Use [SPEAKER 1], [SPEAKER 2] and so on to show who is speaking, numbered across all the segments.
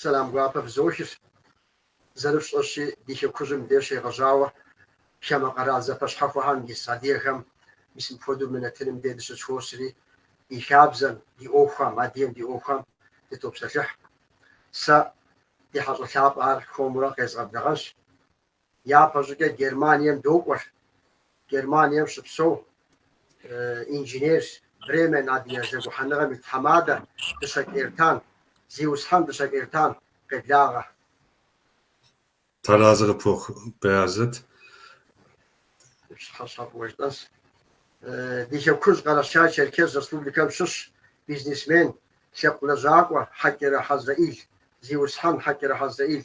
[SPEAKER 1] Сэлам гуапэ фызохи, зэрыфщӏэщи, ди Хэкужьым де щегъэжьауэ хамэ къэрал зэпэщхьэхуэхэм ис адыгэхэм мис мыпхуэдэу мы нэтыным де дыщызэхуосри, ди хабзэм, ди ӏуэхухэм, адыгэм ди ӏуэхухэм дытопсэлъыхь. Сэ ди хьэщӏэ лъапӏэ ар хуэмурэ къезгъэблагъэнщ. Япэщӏыкӏэ Германием докӏуэр. Германием щыпсэу инженер, Бремен Адыгэ зэгухьэныгъэм и тхьэмадэ, Дыщэкӏ Эртан, зиусхьэн Дыщэкӏ Эртан къеблагъэ.
[SPEAKER 2] Тхьэразэ къыпхухъу
[SPEAKER 1] Баязэт. Пщыхьэщхьэ фӏыуэ жытӏэнс. Ди Хэкужь Къэрэшей-Черкес Республикэм щыщ бизнесмен, лъэпкъ лэжьакӏуэ Хьэкӏэрэ Хьэзрэӏил, зиусхьэн Хьэкӏэрэ Хьэзрэӏил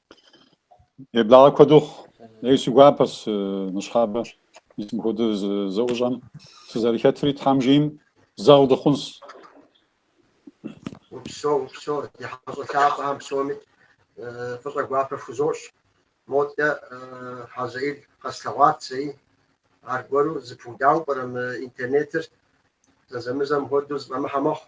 [SPEAKER 3] Еблагъэ куэду ей си гуапэс ныщхьэбэ мис мыпхуэдэ зэӏущӏэм сызэрыхэтри Тхьэм жиӏэм зэгъ дыхъунс.
[SPEAKER 1] Упсэу, упсэу, ди хьэщӏэ лъапӏэхэм псоми фӏыщӏэ гуапэ фхузощӏ. Модэ Хьэзрэӏил къэслъэгъуат зэи. Аргуэру зыпудауэ пӏэрэ мы интернетыр? Зэзэмызэм хуэдэу зыфӏэмыхьэ мэхъу.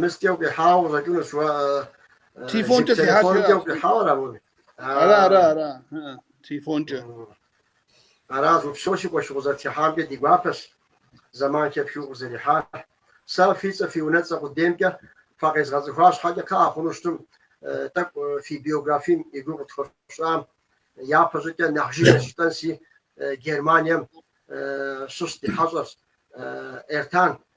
[SPEAKER 1] Мыскӏэ укъихьауэ къыщӏэкӏынущ уэ.
[SPEAKER 4] Телефонкӏэ фихьащ. Телефонкӏэ укъихьауэ
[SPEAKER 1] ара уэ? Ара, ара,
[SPEAKER 4] ара. Телефонкӏэ.
[SPEAKER 1] Аращ, упсэу си къуэш укъызэрытхыхьамкӏэ ди гуапэщ. Зэман хэпхыу укъызэрихьар. Сэ фи цӏэ, фи унэцӏэ къудеймкӏэ фыкъезгъэцӏыхуа щхьэкӏэ кхъыӏэ хъуну щытым, тӏэкӏу фи биографием и гугъу къытхуэфщӏам. Япэ щӏыкӏэ нэхъ жыжьэ жытӏэнси Германием щыщ ди хьэщӏэрщ Эртан.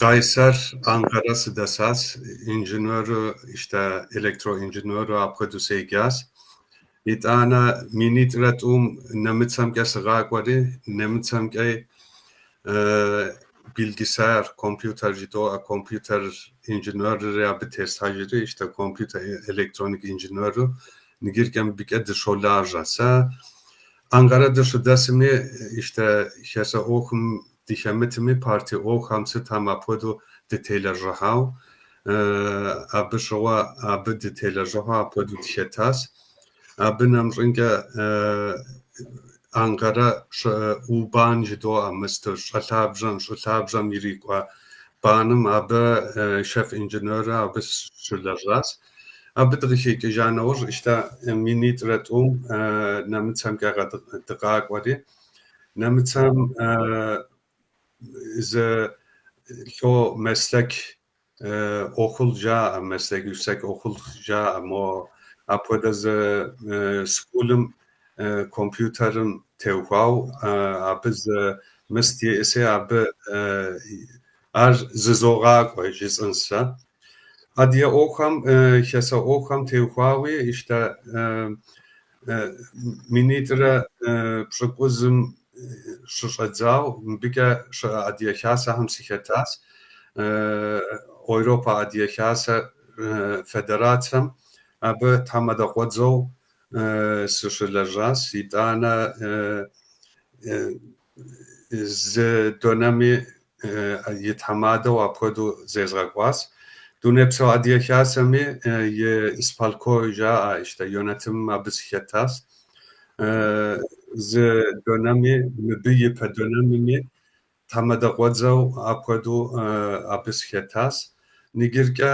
[SPEAKER 2] Къайсэр Анкара сыдэсащ, инженеру, иштэ электроинженеру апхуэдэу седжащ. Итӏанэ минитӏрэ тӏум нэмыцэмкӏэ сыкъакӏуэри, нэмыцэмкӏэ билгисаяр, компьютер жыдоӏэ, компьютер инженерри абы теслъхьэжри, иштэ компьютер электроник инженеру ныгьыркӏэ мыбыкӏэ дыщолажьэ. Сэ Анкара дыщыдэсми, иштэ хасэ ӏуэхум Дыхэмытми, партэ ӏуэхухэм сытхэм апхуэдэу дытелэжьыхьауэ, абы щыгъуэ, абы дытелэжьыхьу апхуэдэу дыхэтащ. Абы нэмыщӏынкӏэ Анкарэ У-бан жыдоӏэ, мысту щӏэлъабжьэм, щӏы лъабжьэм ирикӏуэ баным, абы шеф-инженеру абы сыщылэжьащ. Абы дыкъыхэкӏыжа нэужь, иштэ, минитӏрэ тӏум нэмыцэмкӏэ дыкъакӏуэри, Нэмыцэм зы ло мэслъэк окул жаӏэ, мэслъэк юксек окул жаӏэ, мо апхуэдэ зы скулым компьютерым теухуау абы зы мыст иӏэси абы ар зызогъакӏуэ жысӏэн сэ. Адыгэ ӏуэхум, хасэ ӏуэхум теухуауи, иштэ Минитӏрэ пщӏыкӏузым щыщӏэдзау мыбыкӏэ щыӏэ Адыгэ Хасэхэм сыхэтащ. Ойропэ Адыгэ Хасэ федерацэм абы тхьэмадэкъуэдзэу сыщылэжьащ. Итӏанэ зы донэми и тхьэмадэу апхуэдэу зезгъэкӏуащ. Дунейпсо Адыгэ Хасэми и исполком жаӏэ иштэ йонэтим абы сыхэтащ. Зы донэми, мыбы и пэ донэмми тхьэмадэ къуэдзэу апхуэдэу абы сыхэтащ. Нигиркӏэ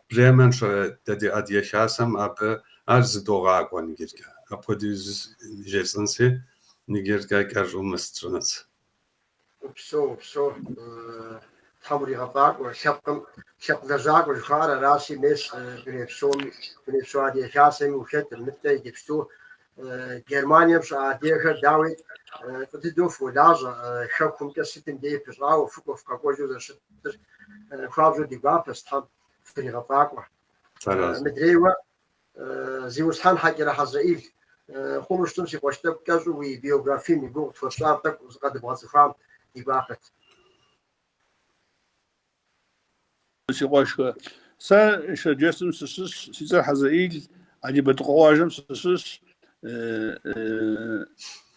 [SPEAKER 2] Бремен щыӏэ дэ ди Адыгэ Хасэм абы ар зыдогъакӏуэ нигиркӏэ. Апхуэдэу жысӏэнси Нигиркӏэ гайкар жумыс трынц. Упсо,
[SPEAKER 1] упсо, тхьэм уригъэфӏакӏуэ, лъэпкъым, лъэпкъ лэжьакӏуэ жыхуаӏэр аращи, мес дуней псоми, Дунейпсо Адыгэ Хасэми ухэтыр, нтӏэ иджыпсту Германием щыӏэ адыгэхэр, дауи, фӏы дыдэу фолажьэ, хэкумкӏэ сытым дей пыщӏауэ, фыкӏуэ, фыкъэкӏуэжу зэрыщытыр хуабжьу ди гуапэщ, тхьэм фыригъэфӏакӏуэ. Мыдрейуэ, Зиусхьэн Хьэкӏэрэ Хьэзрэӏил, хъуну щытым си къуэш тӏэкӏу кӏэщӏу уи биографием и гугъу къытхуэпщӏарэ тӏэкӏу зыкъэдыбгъэцӏыхуам ди гуапэт.
[SPEAKER 4] Си къуэшхэ, сэ Шэрджэсым сыщыщщ, си цӏэр Хьэзрэӏил, Алибэрдыкъуэ къуажэм сыщыщщ,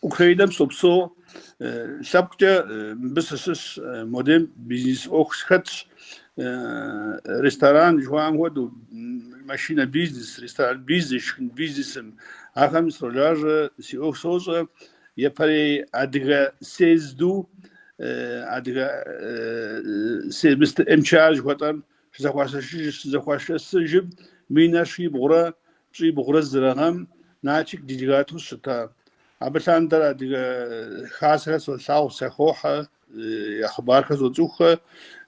[SPEAKER 4] Украинэм сопсо лъэпкъкӏэ мыбы сыщыщ модем бизнес ӏуэху схэтщ ресторан жыхуаӏэм хуэдэу машинэ бизнес, ресторан бизнес, шхын бизнесым ахэм сролажьэ си ӏуэху сощӏэ япэрей адыгэ съезду адыгэ мыстэр МЧА жыхуэтӏэм щызэхуашэсыжым минрэ щибгъурэ пщӏибгъурэ зырэ гъэм Нальчик делегату щыта. Абы лъандэрэ адыгэ хасэхэр солъагъу, сахохьэ, я хъыбархэр зоцӏыхухэ,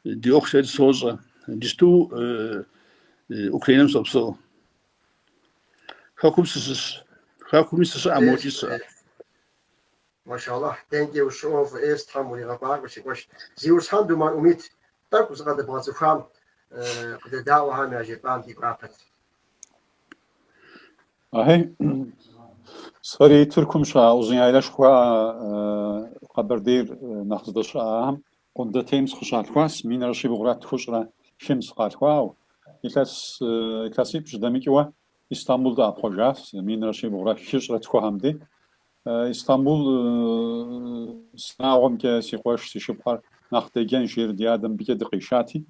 [SPEAKER 4] ди ӏуэху сэ сощӏэ. Иджыпсту Украинэм сопсэу. Хэкум сыщыщ. Хэкуми сыщыӏэ, мокӏи сыщыӏэ. Машаллахь, thank you so of ес Тхьэм уригъэфӏакӏуэ си
[SPEAKER 1] къуэш. Зиусхьэн Думэн Умит, тӏэкӏу зыкъэдыбгъэцӏыхуам къыдэдаӏуэхэм яжепӏам ди гуапэт.
[SPEAKER 3] Ахи, сэри Тыркум щыӏа Узыняйлэ жыхуаӏэ Къэбэрдейр нэхъ здэщыӏахэм Къундэтейм сыкъыщалъхуащ, минрэ щибгъурэ тхущӏрэ хым сыкъалъхуауэ. Илъэс илъэсипщӏ дэмыкӏыуэ Истамбул дыӏэпхъуэжащ, минрэ щибгъурэ хыщӏрэ тхухэм ди. Истамбул си унагъуэмкӏэ си къуэш, си шыпхъухэр нэхъ деджэнщ, жери ди адэм мыбыкӏэ дыкъишати.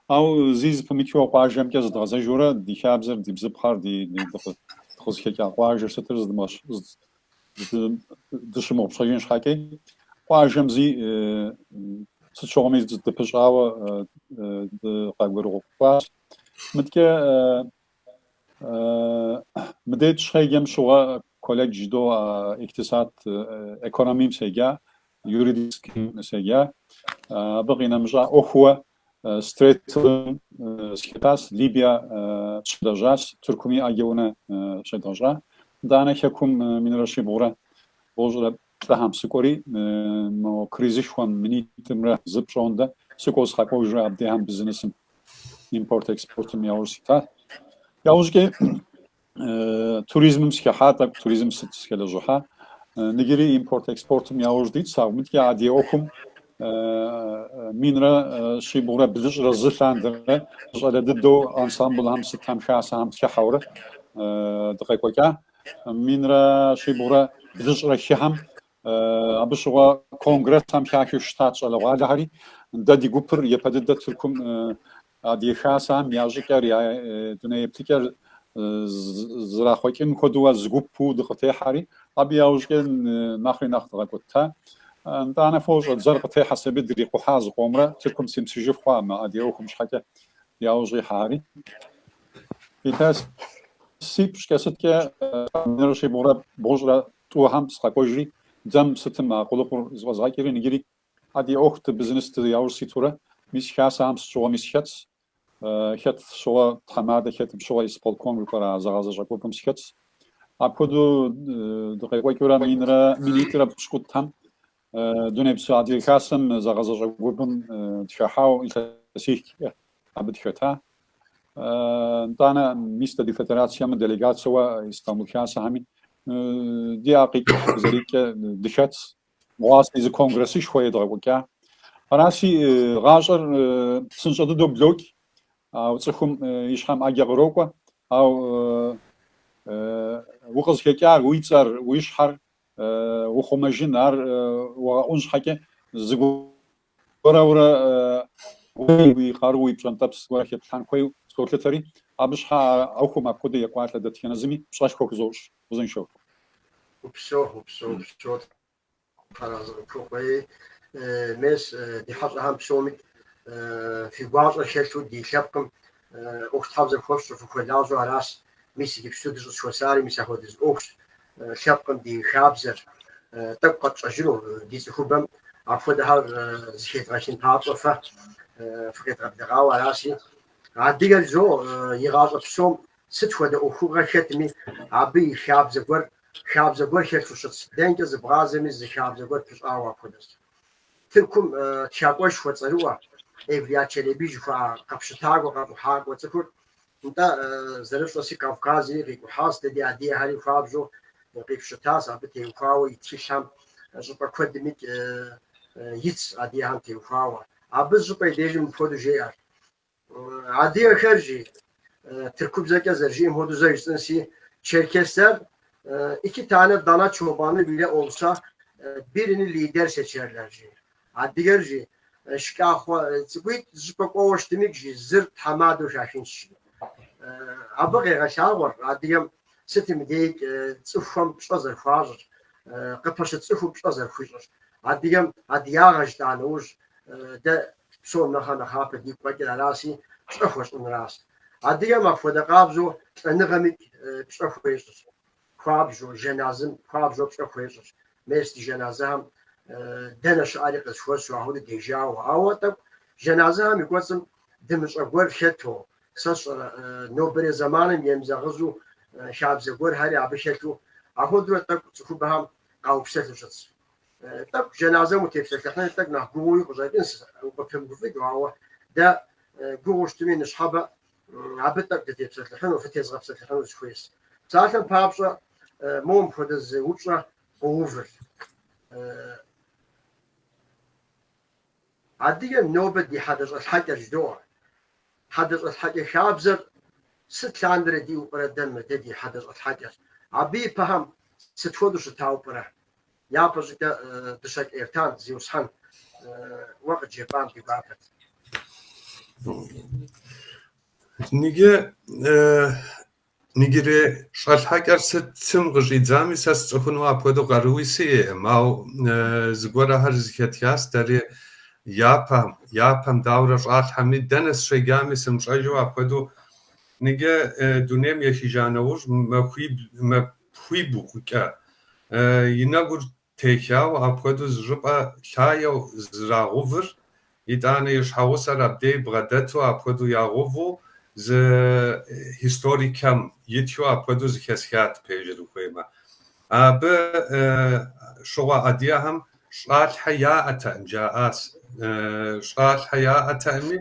[SPEAKER 3] Ау зи зыпымычу а къуажэмкӏэ зыдгъэзэжурэ ди хабзэр, ди бзыпхъэр, ди дыкъызыхэкӏа къуажэр сытыр дыщымыгъупщэжын щхьэкӏи, къуажэм зи сыт щыгъуэми дыпыщӏауэ дыкъэгъуэгурыкӏуащ. Мыдкӏэ мыдэ дыщеджэм щыгъуэ Колледж жыдоӏэ, иктисад экономием седжа, юридическим седжа. Абы къинэмыщӏа ӏуэхууэ строителым сыхэтащ, Либия щыдлэжьащ, Тыркуми ӏэджэ унэ щедгъэщӏа. Итӏанэ Хэкум минрэ щибгъурэ бгъущӏрэ плӏыхэм сыкӏуэри, мо кризышхуэм минитӏымрэ зы пщӏондэ сыкӏуэу сыкъэкӏуэжурэ абдехэм бизнесым, импорт-экспортым яужь ситащ. Яужькӏи Туризмым сыхыхьа, тӏэкӏу туризм сыт сыхэлэжьыхьа. Ныджыри импорт экспортым яуж дитс. Ауэ мыдкӏи адыгэ ӏуэхум минрэ щибгъурэ блыщӏрэ зы лъандэрэ щӏалэ дыдэу ансамблхэм сытхэм хасэхэм сыхыхьэурэ дыкъекӏуэкӏа минрэ щибгъурэ блыщӏрэ хыхэм абы щыгъуэ конгрессхэм хахыу щытат щӏалэгъуалэхэри дэ ди гупыр япэ дыдэ Тыркум Адыгэ Хасэхэм я щӏыкӏэр, я дуней еплъыкӏэр зэрахъуэкӏын хуэдэуэ зы гупу дыкъытехьэри, абы яужкӏэ нэхъри нэхъ дгъэкӏуэта. Нтӏанэ фощӏэ, дзэр къытехьэс аби дрикъухьа зыкъомрэ, Тыркум симысыжыф хъуа мы адыгэ ӏуэхум щхьэкӏэ яужь ихьэри. Илъэсипщӏкӏэ сыткӏэ минрэ щибгъурэ бгъущӏрэ тӏухэм сыкъэкӏуэжри, дзэм сытым а къулыкъур зыфӏэзгъэкӏри, ныджыри Адыгэ ӏуэхути бизнести яужь ситурэ, мис хасэхэм сыт щыгъуэми схэтс, хэт щыгъуэ тхьэмадэ хэт щыгъуэ исполком жыхуаӏэра зыгъэзащӏэ гупым схэтс. Апхуэдэу дыкъекӏуэкӏыурэ минрэ минитӏрэ пщыкӏутӏхэм дунейпсо адыгэ хасэм зыгъэзащӏэ гупым дыхыхьауэ илъэсихкӏэ абы дыхэта. Нтӏанэ мис дэ ди федерацэм делегацэуэ Истамбул хасэхэми ди акъикӏ зэрикӏэ дыхэтс. Дыгъуаси зы конгрессышхуэ едгъэкӏуэкӏа. Араси гъащӏэр псынщӏэ дыдэу блокӏ, ау цӏыхум и щхьэм ӏэджэ кърокӏуэ, ау укъызыхэкӏар, уи цӏэр, уи щхьэр ухъумэжын, ар уэгъэӏун щхьэкӏэ зыгу Уэрэ, уэрэ, уей, уи къару, уи пщӏэнтӏэпс гуэрэ хеплъхьэн хуейу солъытэри, абы щхьэ а ӏуэхум апхуэдэ екӏуалӏэ дэтхэнэ зыми пщӏэшхуэ хузощӏ. Узыншэу. Упсэу, упсэу,
[SPEAKER 1] упсэу, Тхьэразы къыпхухъу, мес, ди хьэщӏэхэм псоми фи гуащӏэр хэлъу ди лъэпкъым ӏуэхутхьэбзэ хуэфщӏу, фыхуэлажьэу аращ. Мис иджыпсту дыщӏызэхуэсари мис апхуэдэ зы ӏуэхущ, лъэпкъым ди хабзэр тӏэкӏу къэтщӏэжыну ди цӏыхубэм апхуэдэхэр зыхедгъэхын папщӏэ фэ фыкъедгъэблэгъауэ аращи. Адыгэр жо и гъащӏэ псом сыт хуэдэ ӏуэхугъэ хэтми, абы и хабзэ гуэр, хабзэ гуэр хэлъу щытщ, дэнкӏэ зыбгъазэми зы хабзэ гуэр пыщӏауэ апхуэдэщ. Тыркум тхакӏуэшхуэ цӏэрыӏуэ Эвлия Челеби жыхуаӏэ къэпщытакӏуэ, къэкӏухьакӏуэ цӏыхур, нтӏэ, зэрыфщӏэси Кавказри къикӏухьащ, дэ ди адыгэхэри хуабжьу къипщытащ, абы теухуауэ и тхылъхэм щӏыпӏэ куэдымикӏ итщ, адыгэхэм теухуауэ. Абы зы щӏыпӏэ и дежи мыпхуэдэу жеӏэр. Адыгэхэр жи, тыркубзэкӏэ зэрыжиӏэм хуэдэу зэ жысӏэнси, черкесэр ики танэ дана чобаны биле олса, бирини лидер сечерлэр жи. Адыгэр жи, шкӏахъуэ цӏыкӏуитӏ зыщӏыпӏэ кӏуэуэ щытымик жи, зыр тхьэмадэу хахынщ жи. Абы къегъэлъагъуэр адыгэм Сытым и дежикӏ цӏыхухэм пщӏэ зэрыхуащӏыр, къыпэщыт цӏыхум пщӏэ зэрыхуищӏыр. Адыгэм адыягъэ жытӏа нэужь, дэ псом нэхърэ нэхъапэ дигу къэкӏыр араси, пщӏэ хуэщӏынращ. Адыгэм апхуэдэ къабзэу лӏэныгъэмикӏ пщӏэ хуещӏырщ. Хуабжьу, жэназым хуабжьу пщӏэ хуещӏырщ. Мес ди жэназэхэм дэнэ щыӏэри къызэхуэсу ахуэдэу дежауэ. Ауэ тӏэкӏу жэназэхэм и кӏуэцӏым дымыщӏэ гуэр хэту, Сэ сщӏэрэ, нобэрей зэманым емызэгъыжьу хабзэ гуэрхэри абы хэлъу, ахуэдурэ тӏэкӏу цӏыхубэхэм къаупсэлъу щытщ. Тӏэкӏу джэназэм утепсэлъыхьыну тӏэкӏу нэхъ гугъууи къыщӏэкӏынщ, укъыпымыгуфӏыкӏыу, ауэ дэ гугъуу щытми, ныщхьэбэ абы тӏэкӏу дытепсэлъыхьыну, фытезыгъэпсэлъыхьыну сыхуейщ. Псалъэм папщӏэ, моуэ мыпхуэдэ зы упщӏэ къоувыр. Адыгэм нобэ ди хьэдэщӏэлъхьэкӏэр жыдоӏэ. Хьэдэщӏэлъхьэкӏэ хабзэр сыт лъандэрэ диӏэу пӏэрэ дэ мы дэ ди хьэдэщӏэлъхьэкӏэр? Абы и пэхэм сыт хуэдэу щытауэ пӏэрэ? Япэ щӏыкӏэ Дыщэкӏ Эртан, Зиусхьэн, уэ къыджепӏам ди гуапэт. Ныджы
[SPEAKER 2] Ныджырей щӏэлъхьэкӏэр сытым къыщӏидзами, сэ сцӏыхуну апхуэдэу къаруи сиӏэкъым, ауэ зыгуэрхэр зыхэтхащ дэри япэм. Япэм дауэрэ щӏалъхьэми, дэнэ сыщеджами, сымыщӏэжу апхуэдэу. Ныджы дунейм ехыжа нэужь, махуибл, махуибгъукӏэ и нэгур Техьауэ апхуэдэу зы щӏыпӏэ лъагэу зэрагъэувыр, итӏанэ и щхьэгъусэр абдей бгъэдэту апхуэдэу ягъэуву зы историкым итхыу апхуэдэу зыхэсхат, пежыр ухуеймэ. Абы щыгъуэ адыгэхэм щӏалъхьэ яӏэтэкъым, жаӏащ. Щӏалъхьэ яӏэтэкъыми,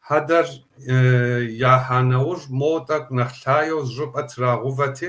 [SPEAKER 2] хьэдэр яхьа нэужь, моуэ тӏэкӏу нэхъ лъагэу зы щӏыпӏэ трагъэувэти,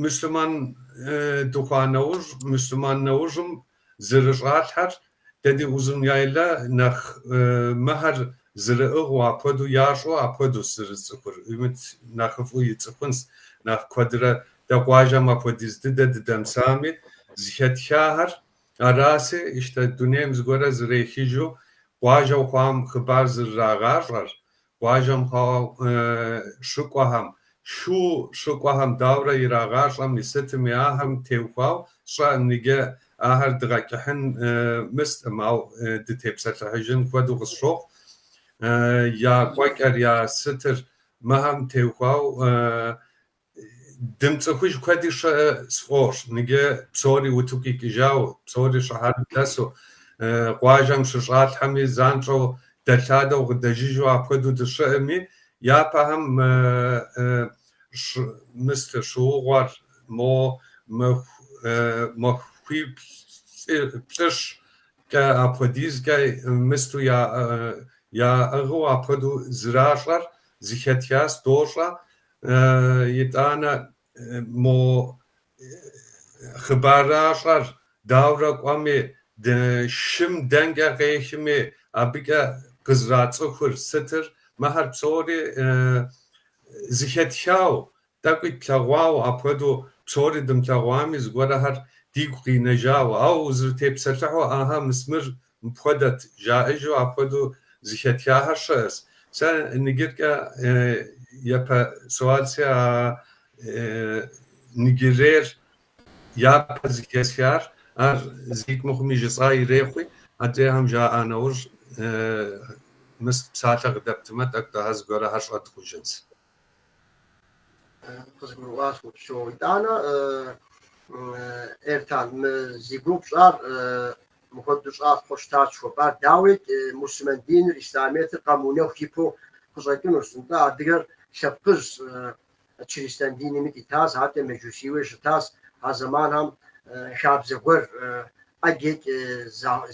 [SPEAKER 2] Муслъыман дыхъуа нэужь, муслъыман нэужьым зэрыщӏалъхьэр дэ ди Узун-яйлэ нэхъ мыхэр зэрыӏыгъыу апхуэдэу ящӏэу апхуэдэущ зэрысцӏыхур, Имыт нэхъыфӏу ицӏыхунщ нэхъ куэдрэ. Дэ къуажэм апхуэдиз дыдэ дыдэмысами, зыхэтхахэр араси, ищтэ дунейм зыгуэрэ зэрехыжу къуажэу хъуам хъыбар зэрырагъащӏэр, Къуажэм хъуауэ щыкӏуэхэм, шу щыкӏуэхэм дауэрэ ирагъащӏэми сытми ахэм теухуау щыӏэ ныджэ, ахэр дгъэкӏыхьын мыстӏым, ау дытепсэлъыхьыжын хуэдэу къысщохъу, я кӏуэкӏэр, я сытыр мыхэм теухуау Дымцӏыхуж куэди щыӏэ сфӏощӏ, ныджэ псори утыку икӏыжауэ, псори щыхьэрым дэсу, къуажэм щыщӏалъхьэми, занщӏэу дэлъадэу къыдэжыжу апхуэдэу дыщыӏэми, япэхэм мыст щыгъуэр, мо махуэ плӏыщӏкӏэ апхуэдизкӏэ мысту яӏыгъыу апхуэдэу зэращӏэр зыхэтхас, дощӏэ, Итӏанэ мо хъыбаращӏэр дауэрэ кӏуэми, шым дэнкӏэ къехми, абыкӏэ къызэрацӏыхур сытыр? Мыхэр псори зыхэтхауэ, тӏэкӏуи тлъэгъуауэ, апхуэдэу псори дымылъэгъуами, зыгуэрхэр дигу къинэжауэ, ауэ узэрытепсэлъыхьу, Ӏэхьэ, мыс мыр Мыпхуэдэт, жаӏэжу апхуэдэу зыхэтхахэр щыӏэщ. Сэ ныджыркӏэ япэ суалси а ныджэрейр япэ зыхэсхар, ар зикӏ мыхъуми жысӏа ирехъуи, адрейхэм жаӏа нэужь, мыс псалъэ къыдэптымэ, тӏэкӏу-тӏыхьэ зыгуэрхэр щӏыдгъужынщ.
[SPEAKER 1] къызгурыӏуащ Упсэу. Итӏанэ Эртан, мы зи гугъу пщӏар мыхуэдэу щӏа хъуу щытащ жыхуэпӏар. Дауикӏ, мусульман диныр, ислъамиетыр къэмыунэху ипэу къыщӏэкӏынущ. Нтӏэ, адыгэр лъэпкъыжщ, чристан динми тетащ, хьэтта меджусийуи щытащ. А зэманхэм хабзэ гуэр ӏэджэкӏэ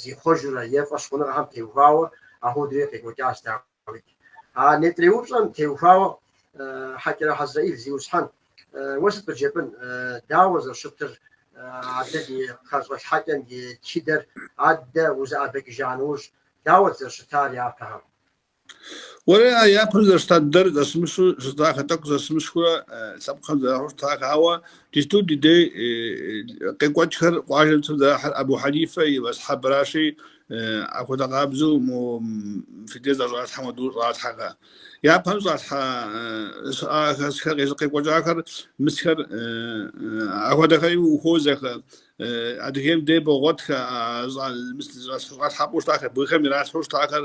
[SPEAKER 1] зихъуэжурэ е фӏэщ хъуныгъэхэм теухуауэ апхуэдэурэ къекӏуэкӏащ, дауи. Давид. А нетӏэрей упщӏэм теухуауэ Хьэкӏэрэ Хьэзраил зиусхьэн, уэ сыт къыджепӏын? Дауэ зэрыщытыр адэ ди хьэщӏэлъхьэкӏэм и тхыдэр адэ узэӏэбэкӏыжа нэужь? Дауэт зэрыщытар япэхэм?
[SPEAKER 4] Уэри а япэм зэрыщыта дыдэр зэсымыщу щытахэ, тӏэкӏу зэсымыщхэурэ лъэпкъхэм зэрахьэу щытахэ. Ауэ джыпсту ди дей къекӏуэкӏхэр къуажэм цӏыху зэрахьэр Абу Хьэнифэ и мэзхьэбращи, Ахуэдэ къабзэу мо фи дей зэрыщӏалъхьэм хуэдэу щӏалъхьэхэ. Япэм щӏалъхьэ щыӏахэсхэ къекӏуэкӏахэр мысхэр ахуэдэхэри ухуозэхэ. Адыгейм дей богъуэтхэ щӏалъхьэпӏэу щытахэр, бгыхэм иралъхьэу щытахэр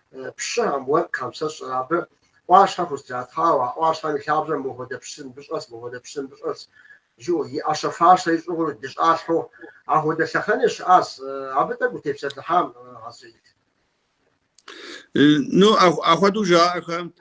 [SPEAKER 1] пщыхэм, уэркъхэм сэ сщӏэр абы ӏуащхьэ хузэтратхъуауэ, а ӏуащхьэм и лъабжьэм мыхуэдэ пщы мыбы щӏэс, мыхуэдэ пщы мыбы щӏэс жыӏэу, и ӏэщэ фащэ ищӏыгъур дыщӏалъхьэу, ахуэдэ лъэхъэнэ щыӏас, абы тӏэкӏу утепсэлъыхьам гъэсэйт.
[SPEAKER 4] Ну, ахуэдэу жаӏэхэм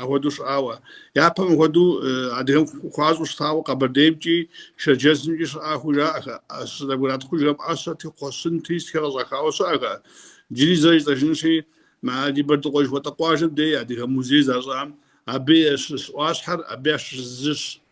[SPEAKER 4] Ахуэдэу щыӏауэ. Япэм ахуэдэу адыгэм хуащӏу щытауэ Къэбэрдеймкӏи, Шэрджэсымкӏи щыӏахэу жаӏэхэ. Щызэбгратхъужхэм ӏэщэти, кхъуэщынти сытхэр къыщӏахауэ щыӏэхэ. Джыри зэ жысӏэжынщи, мы Алибэрдыкъуэ жыхуэтӏэ къуажэм дей адыгэ музей защӏам абы ещыщ ӏуащхьэр абы ящыщ зыщ.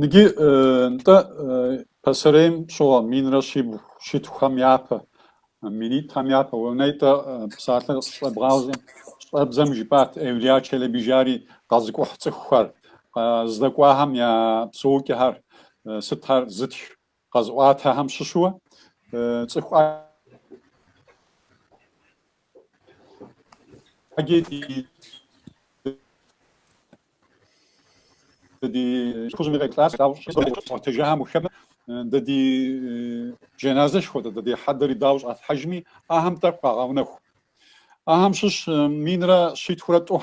[SPEAKER 3] Ныги нтӏэ пасэрейм щыгъуэ минрэ щибгъу щитхухэм япэ, минитӏхэм япэ уэ нетӏэ псалъэ щебгъажьэм, щӏэбдзэм жыпӏат Эвлия Челэби жари къэзыкӏухь цӏыхухэр, къэздэкӏуахэм я псэукӏэхэр сытхэр зытх къэзыӏуатэхэм щыщу цӏыху ди хэкужьми къеплъауэ яӏуэтэжахэм ухэм дэ ди жэназэш хуэдэ, дэ ди хьэдэри дауэ щӏалъхьэжми, ахэм тӏэкӏу къагъэунэху. Ахэм щыщ минрэ щитхурэ тӏу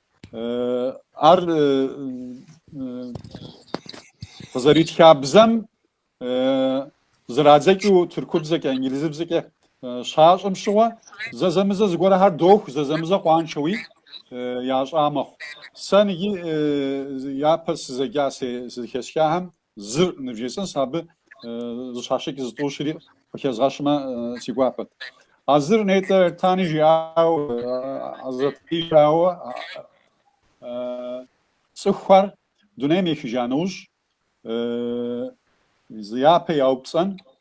[SPEAKER 3] Ар къызэритха бзэм зэрадзэкӏыу тыркубзэкӏэ, инглизыбзэкӏэ щащӏым щыгъуэ зэзэмызэ зыгуэрхэр доху, зэзэмызэ къуаншэуи ящӏа мэхъу. Сэ ныги япэ сызэджа, сэ зыхэсхахэм Зыр нывжесӏэнс, абы зыщащэкӏ зытӏущыри къыхэзгъэщмэ си гуапэт. А зыр нетӏэ Эртани жиӏау Азатри жиӏау цӏыхухэр дунейм ехыжа нэужь зы япэ яупцӏэн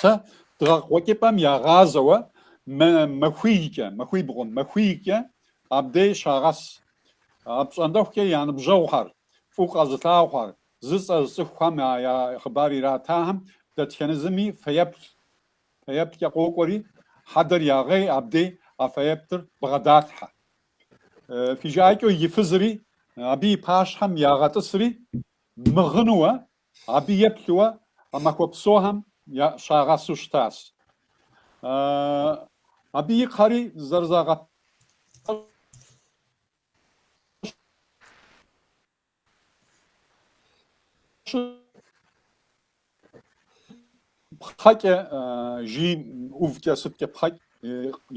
[SPEAKER 3] Сэ дыгъэ къуэкӏыпӏэм ягъазэуэ махуийкӏэ, махуий бгъуэм, махуийкӏэ абдей щагъэс. Апщӏондэхукӏэ я ныбжьэгъухэр, фӏыу къэзылъагъухэр, зы цӏэ зыцӏыхухэм я хъыбар иратахэм дэтхэнэ зыми фэеплъ. Фэеплъкӏэ къокӏуэри, хьэдэр ягъей абдей а фэеплъыр бгъэдалъхьэ. Фижаӏэкӏэу и фызри, абы и пащхьэм ягъэтӏысри, мыгъынуэ Абы еплъыуэ а махуэ псохэм я щагъэсу щытащ. Абы и кхъэри зэрызагъэпэщ. Пхъэкӏэ жыг ӏувкӏэ сыткӏэ пхъэкӏэ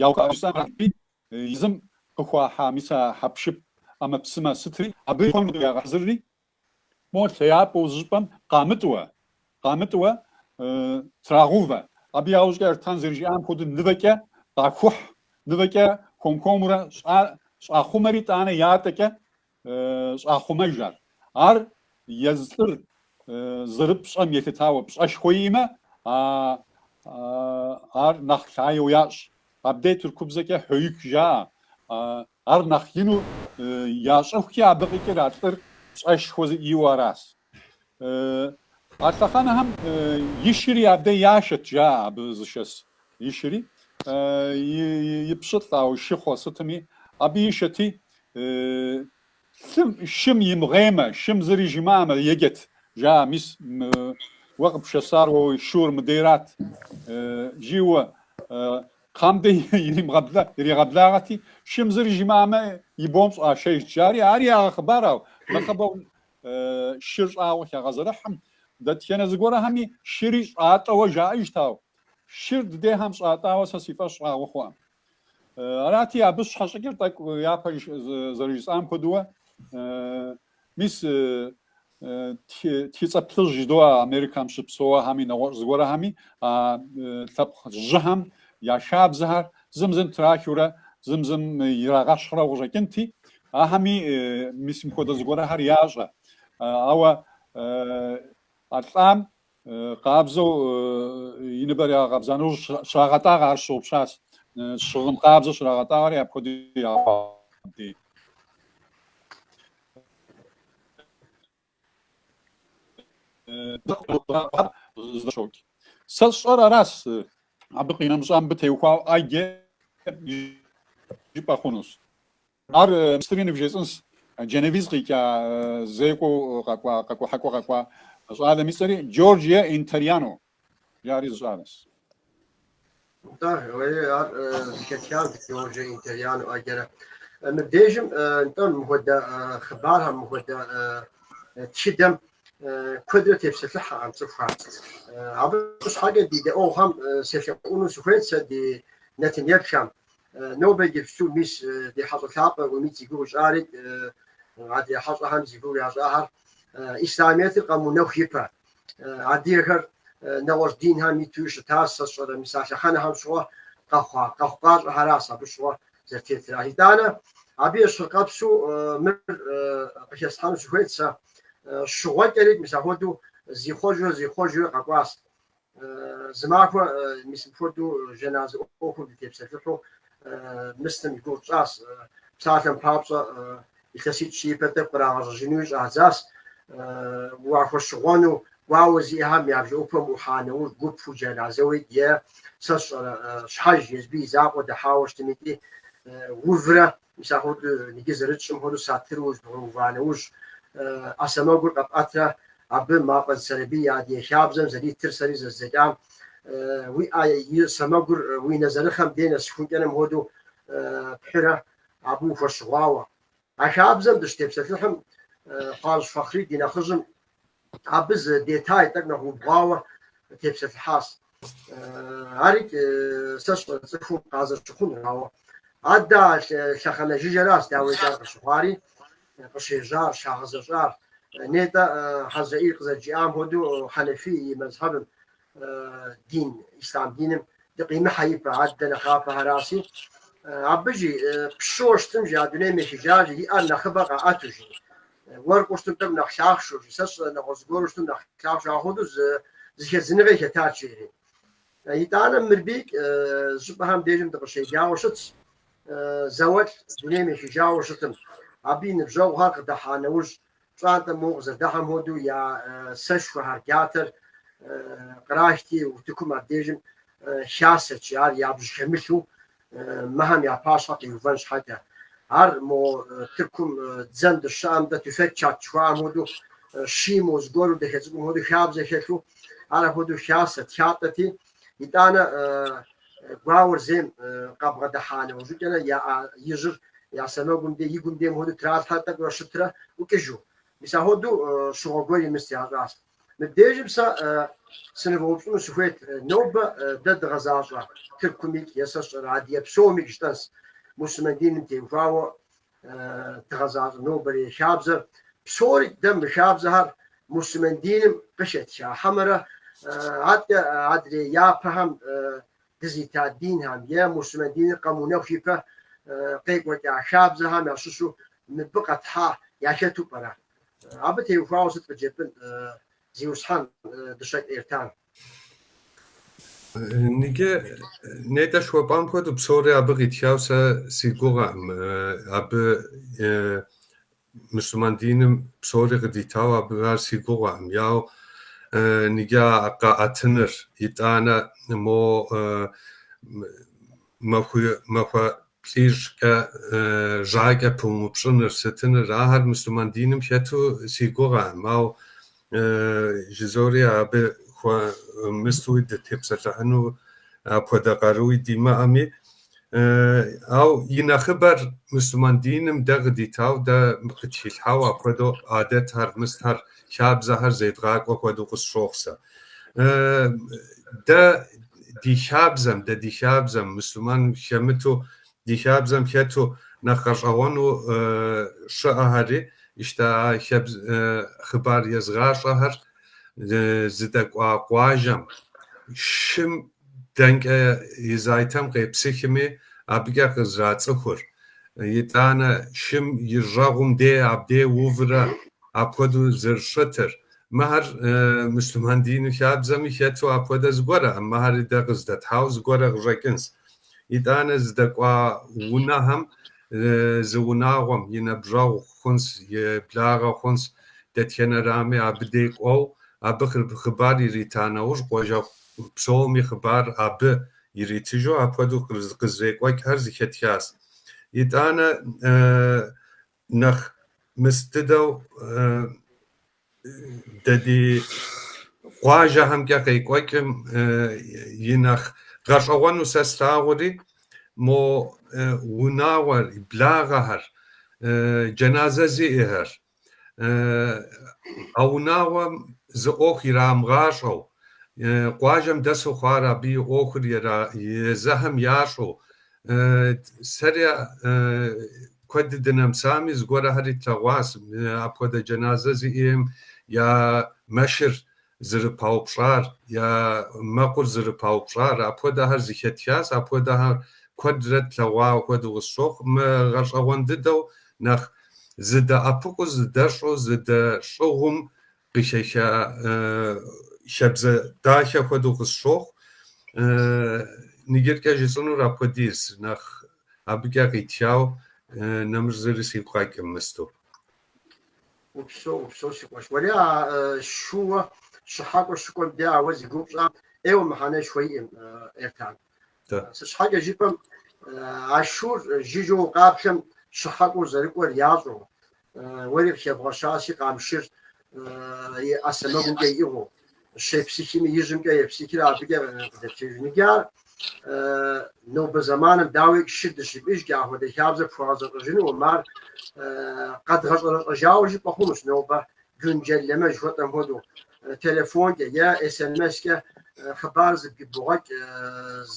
[SPEAKER 3] яухуэри езым къыхуахьа мис а хьэпшып ӏэмэпсымэ сытри абы хуэму ягъэхьэзырри, Мо лъэяпӏэу зы щӏыпӏэм къамытӏуэ, къамытӏуэ, трагъувэ. Абы яужкӏэ Эртан зэрыжиӏам хуэдэу нывэкӏэ къахухь, нывэкӏэ хуэм-хуэмурэ щӏахъумэри тӏанэ ятӏэкӏэ щӏахъумэж ар. Ар езы лӏыр зэрыпщӏэм елъытауэ пщӏэшхуэ иӏэмэ, ар нэхъ лъаеу ящӏ. Абдей тыркубзэкӏэ хьоик жаӏэ, Ар нэхъ ину ящӏыхукӏэ абы къикӏыр а лӏыр пщӏэшхуэ зиӏэуэ аращ. А лъэхъэнэхэм и шыри абдэ яшэт, жаӏэ абы зышэс и шыри, и пщылӏ, ауэ шыхъуэ сытми, абы ишэти, лъым, шым имыгъеймэ, шым зыри жимыӏэмэ, еджэт, жаӏэ, мис уэ къыпшэсар уэ уи шур мыдейрат, жиуэ Кхъэм дей иригъэблагъэти, шым зыр жимыӏамэ, и бом щӏашэжт, жари ар ягъэхъыбарау, нэхъыбэу шыр щӏагъуэ хягъэзэрыхьым, дэтхэнэ зыгуэрхэми шыри щӏатӏэуэ жаӏэжтау, шыр дыдехьэм щӏатӏауэ сэ си фӏэщ щӏагъуэ хъуӏэм. Арати, абы щхьэщыкӏыр тӏэкӏу япэ зэрыжысӏам хуэдэуэ Мис тхыцӏэ плъыжь жыдоӏэ Америкам щыпсэуэхэми, нэгъуэщӏ зыгуэрхэми а лъэпкъыжьхэм я хабзэхэр зым зым трахыурэ, зым зым ирагъэщхьрэу къыщӏэкӏынти, ахэми мис мыпхуэдэ зыгуэрхэр ящӏэ. Ауэ а лӏам Къабзэу и ныбэр ягъэкъабза нэужь щрагъэтӏагъэ, ар сщыгъупщащ. Щыгъын къабзэу щрагъэтӏагъэри апхуэдэу я хьэдэр зэфӏокӏ. Сэ сщӏэр аращ, абы къинэмыщӏа мыбы теухуауэ ӏэджэ жыпӏэ хъунущ. Ар мис ари ныбжесӏынщ. Джэнэвиз къикӏа зекӏуэу къэкӏуа, къэкӏухьакӏуэу къэкӏуа щӏалэм и цӏэри Джорджиа Интерьяно жаӏэри зы щӏалэщ. Нтӏэ, уей, ар
[SPEAKER 1] зыхэтхар Джорджиа Интерьяно ӏэджэрэ. Мыбдежым, нтӏэ, мыхуэдэ хъыбархэм, мыхуэдэ тхыдэм куэдрэ тепсэлъыхьэкъым цӏыхухэр. Абы щхьэкӏэ ди дэӏуэгъухэм селъэӏуну сыхуейт сэ ди нэтын-епхэм, Нобэ иджыпсту мис ди хьэщӏэ лъапӏэ Умид зи гугъу ищӏарит, адыгэ хьэщӏэхэм зи гугъу ящӏахэр Ислъамиетыр къэмыунэху ипэ. Адыгэхэр нэгъуэщӏ динхэм итуи щытащ, сэ сщӏэрэ мис а лъэхъэнэхэм щыгъуэ къэхъуа къэхъукъащӏэхэращ абы щыгъуэ зэрытетыр. А итӏанэ абы ещхьыркъэпсу мыр къыхэсхьэну сыхуейт сэ. Щыгъуэкӏэрит мис ахуэдэу зихъуэжурэ зихъуэжурэ къэкӏуащ. Зы махуэ мис мыпхуэдэу жэназэ ӏуэхум дытепсэлъыхьу мысным и гугъу тщӏащ. Псалъэм папщӏэ, илъэситӏ-щы ипэ тӏэкӏу кърагъэщӏэжынуи щӏадзащ. Уахуэщыгъуэну гуауэ зиӏэхэм я бжэӏупэм ӏухьа нэужь гупу джэназэуи е, сэ сщӏэрэ, щхьэж, езби и закъуэ дэхьауэ щытым икӏи, уврэ Мис ахуэдэу иджы зэрытщӏым хуэдэу сатыру зыдгъэува нэужь, ӏэ сэмэгур къэпӏэтрэ абы Мафӏэдз Сэрэбий и адыгэ хабзэм зэритыр сэри зэздзэкӏам, уи ӏэ и сэмэгур уи нэзэрыхъэм дей нэсыхункӏэным хуэдэу пхьурэ абы ухуэщыгъуауэ. А хабзэм дыщытепсэлъыхьым, Хъуажь Фэхъри ди нэхъыжьым Абы зы детай тӏэкӏу нэхъ убгъуауэ тепсэлъыхьащ. Арикӏ сэ сщӏэрэ цӏыхум къазэрыщыхъунур, ауэ адэ а лъэхъэнэ жыжьэращ дауикӏ ар къыщыхъуари, къыщежьар, щагъэзэщӏар. Нетӏэ Хьэзрэӏил къызэрыжиӏам хуэдэу Хьэнэфий и мэзхьэбым дин, ислам диным дыкъимыхьэ ипэ, адэ нэхъапэхэращи, абы жи пщыуэ щытым жи а дунейм ехыжа жи и ӏэр нэхъыбэ къаӏэту жи. Уэркъыу щытым тӏэкӏу нэхъ лъахъшэу жи, сэ сщӏэ нэгъуэщӏ зыгуэру щытым нэхъ лъахъшэу ахуэдэу зы зэхэдзыныгъэ хэтат жери. Итӏанэ мырбий щӏыпӏэхэм дежым дыкъыщеджауэ щытщ, зауэлӏ дунейм ехыжауэ щытым, абы и ныбжьэгъухэр къыдэхьа нэужь, пщӏантӏэм мо къызэрыдыхьэм хуэдэу я сэшхуэхэр, джатэр кърахти, утыкум абдежым хасэт жи, ар ябж хэмылъу мыхэм я пащхьэ къиувэн щхьэкӏэ. Ар мо тыркум дзэм дыщыщыӏэм дэ тюфек чат жыхуаӏэм хуэдэущи, мо зыгуэру дахэ цӏыкӏум хуэдэу хабзэ хэлъу, ар ахуэдэу хасэт, хатӏэти, Итӏанэ гуауэр зейм къабгъэдыхьа нэужьыкӏэрэ я ӏэ ижьыр я сэмэгум дей, и гум дейм хуэдэу тралъхьэ тӏэкӏурэ щытрэ ӏукӏыжу. Мис ахуэдэу щыгъуэ гуэри мыст ящӏащ. Мыбдежым сэ сынывгъэупщӏыну сыхуейт, нобэ дэ дгъэзащӏэ Тыркумикӏ, Есэщӏэрэ, Адыгей псомикӏ жытӏэнс, мусульман диным теухуауэ дгъэзащӏэ нобэрей хабзэр. Псори дэ мы хабзэхэр муслъымэн диным къыхэтха хьэмэрэ атӏэ адрей япэхэм дызита динхэм е муслъымэн диныр къэмыунэху ипэ къекӏуэкӏа хабзэхэм ящыщу мыбы къэтхьа яхэту пӏэрэ? Абы теухуауэ сыт къыджепӏын, Зиусхьэн, Дыщэкӏ Эртан?
[SPEAKER 2] Ныджы, нетӏэ жыхуэпӏам хуэдэу псори абы къитхауэ сэ си гугъэкъым. Абы мусульман диным псори къыдитауэ абы ар си гугъэкъым. Яу ныджы къэӏэтыныр, итӏанэ мо махуэ плӏыщӏкӏэ жьакӏэ пумыупщӏыныр сытыныр? Ахэр мусульман диным хэту си гугъэкъым, ау жызори абы хуэмыстуи дытепсэлъыхьыну апхуэдэ къаруи димыӏэми. Ау и нэхъыбэр мусульман диным дэ къыдитау, дэ къытхилъхьау апхуэдэу адэтхэр, мыстхэр хабзэхэр зедгъакӏуэ хуэдэу къысщохъу сэ. Дэ ди хабзэм, дэ ди хабзэм, муслъымэн хэмыту, ди хабзэм хэту нэхъ гъэщӏэгъуэну щыӏэхэри, ищта хъыбар езыгъащӏэхэр зыдэкӏуа къуажэм, шым дэнкӏэ и зайтэм къепсыхми, абыкӏэ къызрацӏыхур. Итӏанэ шым и жьэгъум дей абдей уврэ апхуэдэу зэрыщытыр. Мыхэр муслъымэн дину хабзэми хэту апхуэдэ зыгуэркъым, мыхэр дэ къыздэтхьау зыгуэрэ къыщӏэкӏынщ. Итӏанэ здэкӏуа унэхэм, зы унагъуэм и нэбжьэгъу хъунщ, и благъэ хъунщ, дэтхэнэрами абы дей кӏуэу, абы хъыбар ирита нэужь къуажэгъу псоми хъыбар абы иритыжу апхуэдэу къызрекӏуэкӏхэр зэхэтхащ. Итӏанэ нэхъ мыс дыдэу дэ ди къуажэхэмкӏэ къекӏуэкӏым и нэхъ гъэщӏэгъуэну сэ слъагъури, мо унагъуэр, благъэхэр, джэназэ зиӏэхэр, а унагъуэм зы ӏуэху ирамыгъащӏэу, къуажэм дэсу хъуар абы и ӏуэхур езыхэм ящӏу, сэри куэду дынэмысами, зыгуэрхэри тлъэгъуащ апхуэдэ джэназэ зиӏэм я мэшыр зэрыпаупщӏар, я мэкъур зэрыпаупщӏар, апхуэдэхэр зыхэтхащ, апхуэдэхэр куэдрэ тлъэгъуауэ хуэдэу къысщохъу, мы гъэщӏэгъуэн дыдэу нэхъ зыдэӏэпыкъуу, зыдэщӏу, зыдэщӏыгъум къыхиха хабзэ дахэ хуэдэу къысщохъу, ныджэркӏэ жысӏэнур апхуэдиз, нэхъ абыкӏэ къитхауэ нэмыщӏ зыри сигу къэкӏым мысту.
[SPEAKER 1] Упсэу, упсэу, си къуэш. Уэри а шууэ щыхьэкӏуэ щыкӏуэм дэ ауэ зи гугъу пщӏам ӏейуэ мыхьэнэшхуэ иӏэм, Эртан. Сыт щхьэкӏэ жыпӏэм, а шуур жыжьэу къаплъэм щыхьэкӏуэу зэрыкӏуэр ящӏэу, уэри къыхэбгъэщаси, къамшыр и ӏэ сэмэгумкӏэ иӏыгъыу, щепсыхими, ижьымкӏэ епсыхри абыкӏэ къыдэпкӏеижынкӏэ ар нобэ зэманым дауи шы дыщимыӏыжкӏэ ахуэдэ хабзэ пхуэгъэзэщӏэжынум, ар къэдгъэщӏэрэщӏэжауэ жыпӏэ хъунущ нобэ güncelleme жыхуэтӏэм хуэдэу телефонкӏэ е смс-кӏэ хъыбар зэбгрыбогъэкӏ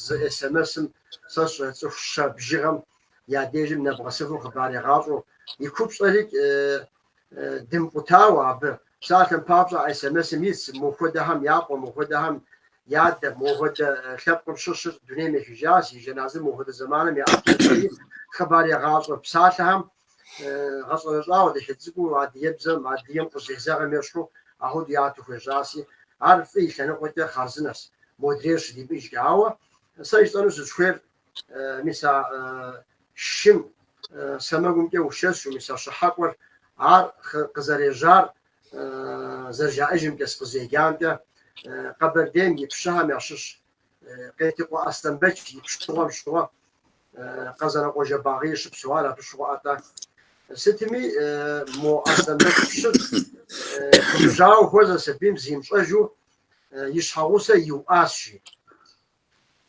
[SPEAKER 1] зы смс-м сэ сщӏэ цӏыху щэ бжыгъэм я дежым нэбгъэсыфу хъыбар егъащӏэу и купщӏэри дымыкъутауэ абы. Псалъэм папщӏэ, СМС, мис мо хуэдэхэм япхъу, мо хуэдэхэм я адэ, мо хуэдэ лъэпкъым щыщыр дунейм ехыжас, и жэназыр мо хуэдэ зэманым яӏэт жаӏэри хъыбар ягъащӏэ. Псалъэхэм гъэщӏэрэщӏауэ дахэ цӏыкӏуу адыгэбзэм, адыгэм къызезэгъым ещхьу ахуэдэу яту хуежьаси, ар фӏы и лъэныкъуэкӏэ хъарзынэс, модрейр щыдимыӏыжкӏэ. Ауэ сэ жысӏэну сызыхуейр Мис а шым сэмэгумкӏэ ушэсу, мис а щыхьэкӏуэр ар къызэрежьар зэрыжаӏэжымкӏэ, сыкъызеджамкӏэ, Къэбэрдейм и пщыхьэм ящыщ Къетыкъуэ Аслъэнбэч и пщыгъуэм щыгъуэ Къэзанокъуэ Жэбагъыи щыпсэуар абы щыгъуэ ӏэтӏэ. Сытми, мо Аслъэнбэч пщыр губжьауэ хуэзэ сабийм зимыщӏэжу и щхьэгъусэ иуӏащ, жи.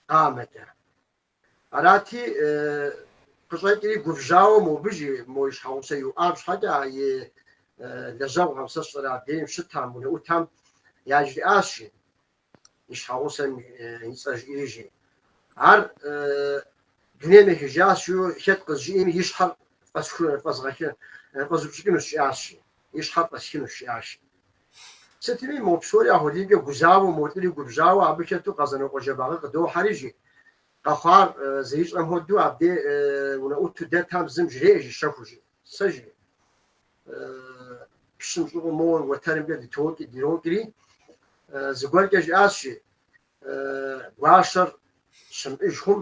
[SPEAKER 1] Къамэкӏэ. Арати, къыщӏэкӏри губжьауэ мобы жи мо и щхьэгъусэ иуӏам щхьэкӏэ а и лэжьэгъухэм, сэ сщӏэрэ абдеим щытам, унэӏутам яжриӏащ жи, и щхьэгъусэм и цӏэ жиӏэри жи. Ар дунейм ехыжащ жиу хэт къызжиӏэми и щхьэр фӏэсху, фӏэзгъэхы, фӏэзупщӏыкӏынущ жиӏащ жи, и щхьэр фӏэсхынущ жиӏащ. Сытми, мо псори ахуэдизкӏэ гузавэу, мо лӏыри губжьауэ абы хэту Къэзанокъуэ Жэбагъы къыдохьэри, жи. Къэхъуар зэрищӏэм хуэдэу абдей унэӏуту дэтам зым жреӏэ, жи, щэхуу, жи. Сэ, жи, пщым щӏыгъуу моуэ уэтэрымкӏэ дытокӏи, дирокӏри, зыгуэркӏэ жиӏащ, жи, Гуащэр щымыӏыж хъум,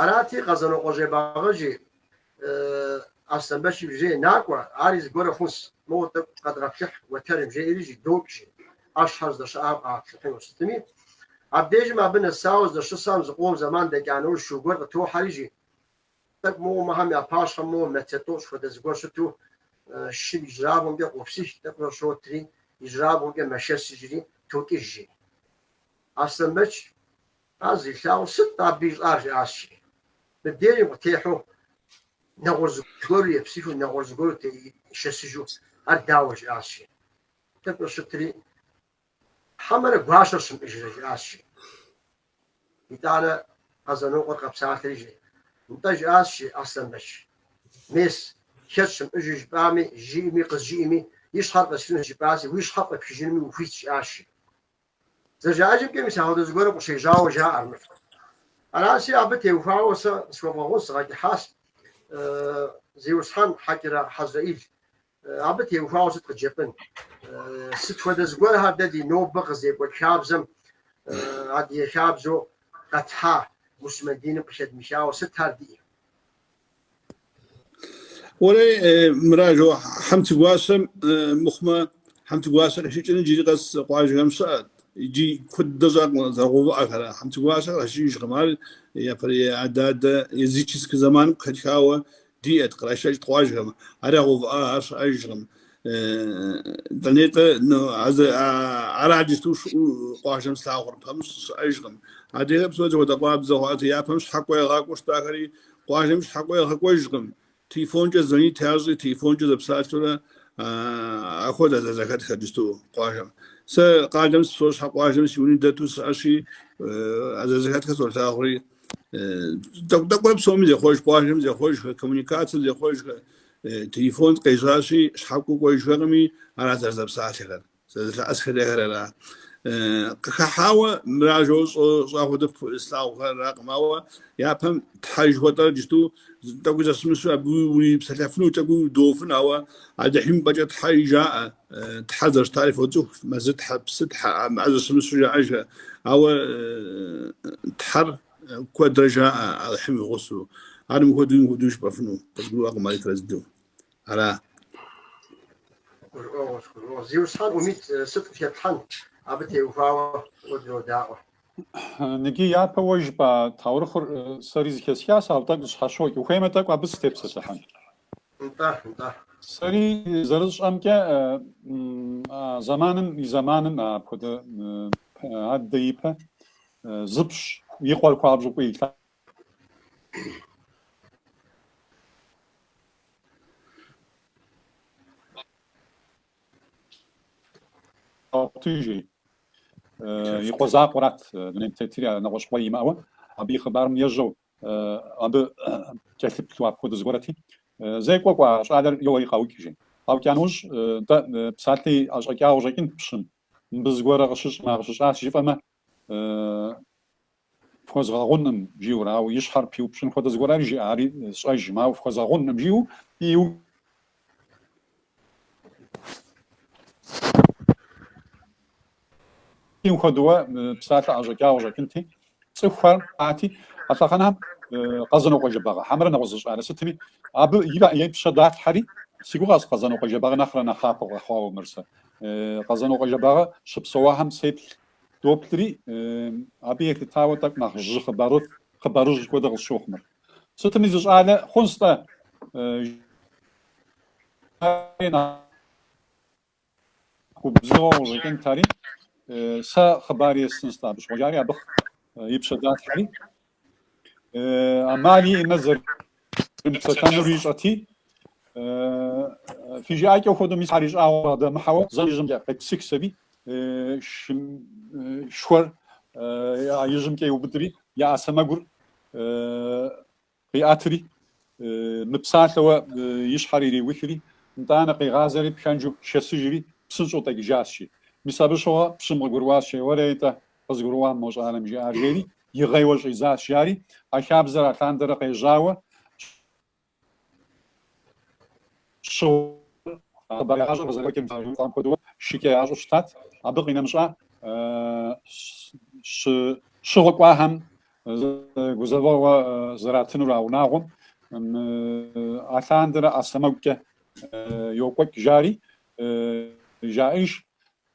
[SPEAKER 1] Арати, Къэзанокъуэ Жэбагъы жи, Аслъэнбэч пщы, жи, Накӏуэ, ари зыгуэру хъунщ, моуэ тӏэкӏу къэдгъэплъыхь уэтэрым, жеӏэри жи, докӏ жи, ӏэщхэр здэщыӏам къаплъыхьыну сытми, абдежым абы нэсауэ здэщысам зыкъом зэман дэкӏа нэужь шу гуэр къытохьэри жи, тӏэкӏу моуэ мыхьэм я пащхьэм моуэ метр тӏощӏ хуэдэ зыгуэр щыту, шым ижьырабгъумкӏэ къопсых, тӏэкӏурэ щотри, ижьырабгъумкӏэ мэшэсыжри, токӏыж жи. Аслъэнбэч Ар зилъагъум сыт абы ищӏар? жиӏащи, мыбдежым къытехьэу нэгъуэщӏ зыгуэру епсыхыу, нэгъуэщӏ зыгуэру шэсыжу, ар дауэ? жиӏащи, тӏэкӏуэ щытри, хьэмэрэ гуащэр щымыӏыжрэ? жиӏащи, итӏанэ Къэзанокъуэр къэпсалъэри жи, нтӏэ, жиӏащи, Аслъэнбэч, мес, хэт щымыӏыжу жыпӏами, жиӏэми, къызжиӏэми, и щхьэр фӏэсхынущ, жыпӏаси, уи щхьэр фӏэпхыжынми ухуит, жиӏащи, Зэрыжаӏэжымкӏэ мис ахуэдэ зыгуэрым къыщежьауэ жаӏэр мыфӏ. Араси абы теухуауэ сэ къысхуэвгъэгъунщ, згъэкӏыхьащ Зиусхьэн Хьэкӏырэ Хьэзрэӏил. Абы теухуауэ сыт къыджепӏэн? Сыт хуэдэ зыгуэрхэр дэ ди нобэ къызекӏуэкӏ хабзэм адыгэ хабзэу къэтхьа муслъымэн диным къыхэдмыхауэ сытхэр диӏэ?
[SPEAKER 4] Уэлей, мыражэу, хьэнцэгуащэм мыхъумэ, хьэнцэгуащэ къешэкӏын джыри къэс къуажэхэм щыӏэт. Иджы куэд дыдэ щӏакъым зэрагъэувыӏэхэр. Хьэнцэгуащэ кърашэкӏыжкъым. Ар япэрей адэ-адэ языческэ зэманым къыхэтхауэ диӏэт, кърашэкӏт къуажэхэм. Ар ягъэувыӏа, ар щыӏэжкъым. Дэнитӏэ, ну, ара, джысту къуажэм слъагъур пэмыщӏ щыӏэжкъым. Адрейр псори зэхуэдэ къуабзэ хъуат, япэм щхьэкӏуэ ягъакӏуэу щытахэри къуажэм щхьэкӏуэ ягъэкӏуэжкъым. Телефонкӏэ звонит ящӏи, телефонкӏэ зэпсалъурэ ахуэдэ зэрызэхэтхэр джысту къуажэм. Сэ къалэм сыщыпсэу щхьэ, къуажэм си уни дэту сиӏэщи, зэрызэхэтхэр солъагъури. Тӏэкӏу-тӏэкӏурэ псоми зехъуэж, къуажэм зехъуэжхэ, коммуникацием зехъуэжхэ. Телефон къежьащи, щхьэкӏуэ кӏуэжхэкъыми, ара зэрызэпсалъэхэр, зэрызэлъэӏэсхэрэр ара. Къыхыхьауэ мыражэу щӏа хуэдэ слъагъухэракъым, ауэ япэм Тхьэ жыхуэтӏэр иджыпсту тӏэкӏуи зэщымыщу абы урипсэлъэфыну тӏэкӏуи удофын, ауэ Алыхьым ипӏэкӏэ Тхьэ жаӏэ, Тхьэ зэрыщытари фоцӏыху, Мэзытхьэ, Псытхьэ, а мыӏэ зэщымыщу жаӏэжхэ. Ауэ Тхьэр Куэдрэ жаӏэ Алыхьым и гъусэу. Ар мыхуэдэу мыхуэдэу жыпӏэфыну къызгурыӏуэкъым ар итрэзыдэу. Ара? Гурыӏуэгъуэщ, гурыӏуэгъуэщ. Зиусхьэн Умит сыт къытепхьэн, абы
[SPEAKER 1] теухуауэ куэдрэ удаӏуэ. Ныкӏи
[SPEAKER 3] япэ уэ жыпӏа таурыхъыр сэри зэхэсхащ, ауэ тӏэкӏу зэщхьэщокӏ. Ухуеймэ тӏэкӏу абы сытепсэлъыхьын.
[SPEAKER 1] Нтӏэ, нтӏэ.
[SPEAKER 3] Сэри зэрысщӏэмкӏэ а зэманым и зэманым апхуэдэ аддэ ипэ Зы пщы, и къуэр хуабжьу фӏыуэ илъагъут, жи, и къуэ закъуэрат, дунейм тетри а нэгъуэщӏ къуэ имыӏэуэ, абы и хъыбарым ежьэу, абы кӏэлъыплъу апхуэдэ зыгуэрэти, зекӏуэ кӏуа щӏалэр йоуэри къаукӏ, жи. Къаукӏа нэужь, нтӏэ, псалъи ӏэщӏэкӏауэ къыщӏэкӏынт пщым, мыбы зыгуэрэ къыщыщӏмэ, къыщыщӏащ жыфӏэмэ, фхуэзгъэгъуным, жиӏэурэ, ауэ и щхьэр пиупщӏын хуэдэ зыгуэр ари жиӏа, ари сщӏэжым, ауэ фхуэзгъэгъуным, жиӏэу иу. Иу хуэдэуэ псалъэ ӏэщӏэкӏа къыщӏэкӏынти, цӏыхухэр арати, а лъэхъэнэхэм Къэзэнокъуэ Жэбагъы хьэмэрэ нэгъуэщӏ зы щӏалэ сытми, абы и пщэ далъхьэри, си гугъэс Къэзэнокъуэ Жэбагъы нэхърэ нэхъапэ къэхъуауэ мыр сэ. Къэзэнокъуэ Жэбагъы щыпсэуахэм сеплъ. Доплъри, абы елъытауэ тӏэкӏу нэхъыжь хъыбару, хъыбарыжь хуэдэ къысщохъу мыр. Сытми зы щӏалэ хъунщ-тӏэ, нэхъ губзыгъэу къыщӏэкӏынт ари, сэ хъыбар естынщ-тӏэ абы щыгъуэ, жари абы и пщэ далъхьэри, Амал имыӏэу зэрымыпсэлъэнур ищӏэти, фи жыӏэкӏэу хуэдэу мис ар ищӏагъуэ къыдэмыхьэуэ зэм ижьымкӏэ къепсыхщ аби, шхуэр ижьымкӏэ иубыдри, я ӏэ сэмэгур къиӏэтри, мыпсалъэуэ и щхьэр ириухри, нтӏанэ къигъазэри, пхэнжу шэсыжри, псынщӏэу дэкӏыжащ, жи. Мис абы щыгъуэ пщым къыгурыӏуащ, Уэрэ, итӏэ, Къызгурыӏуа мо щӏалэм жиӏар, жери игъейуэ щӏидзащ, жари, а хабзэр алъандэрэ къежьауэ щыгъуэ хъыбар ящӏыр къызэрекӏуэкӏым къыщӏэкӏуам хуэдэу шыкӏэ ящӏу щытат, абы къинэмыщӏа щыгъуэ кӏуахэм гузэвэгъуэ зэратынур а унагъуэм алъандэрэ ӏэ сэмэгукӏэ йокӏуэкӏ, жари, жаӏэж,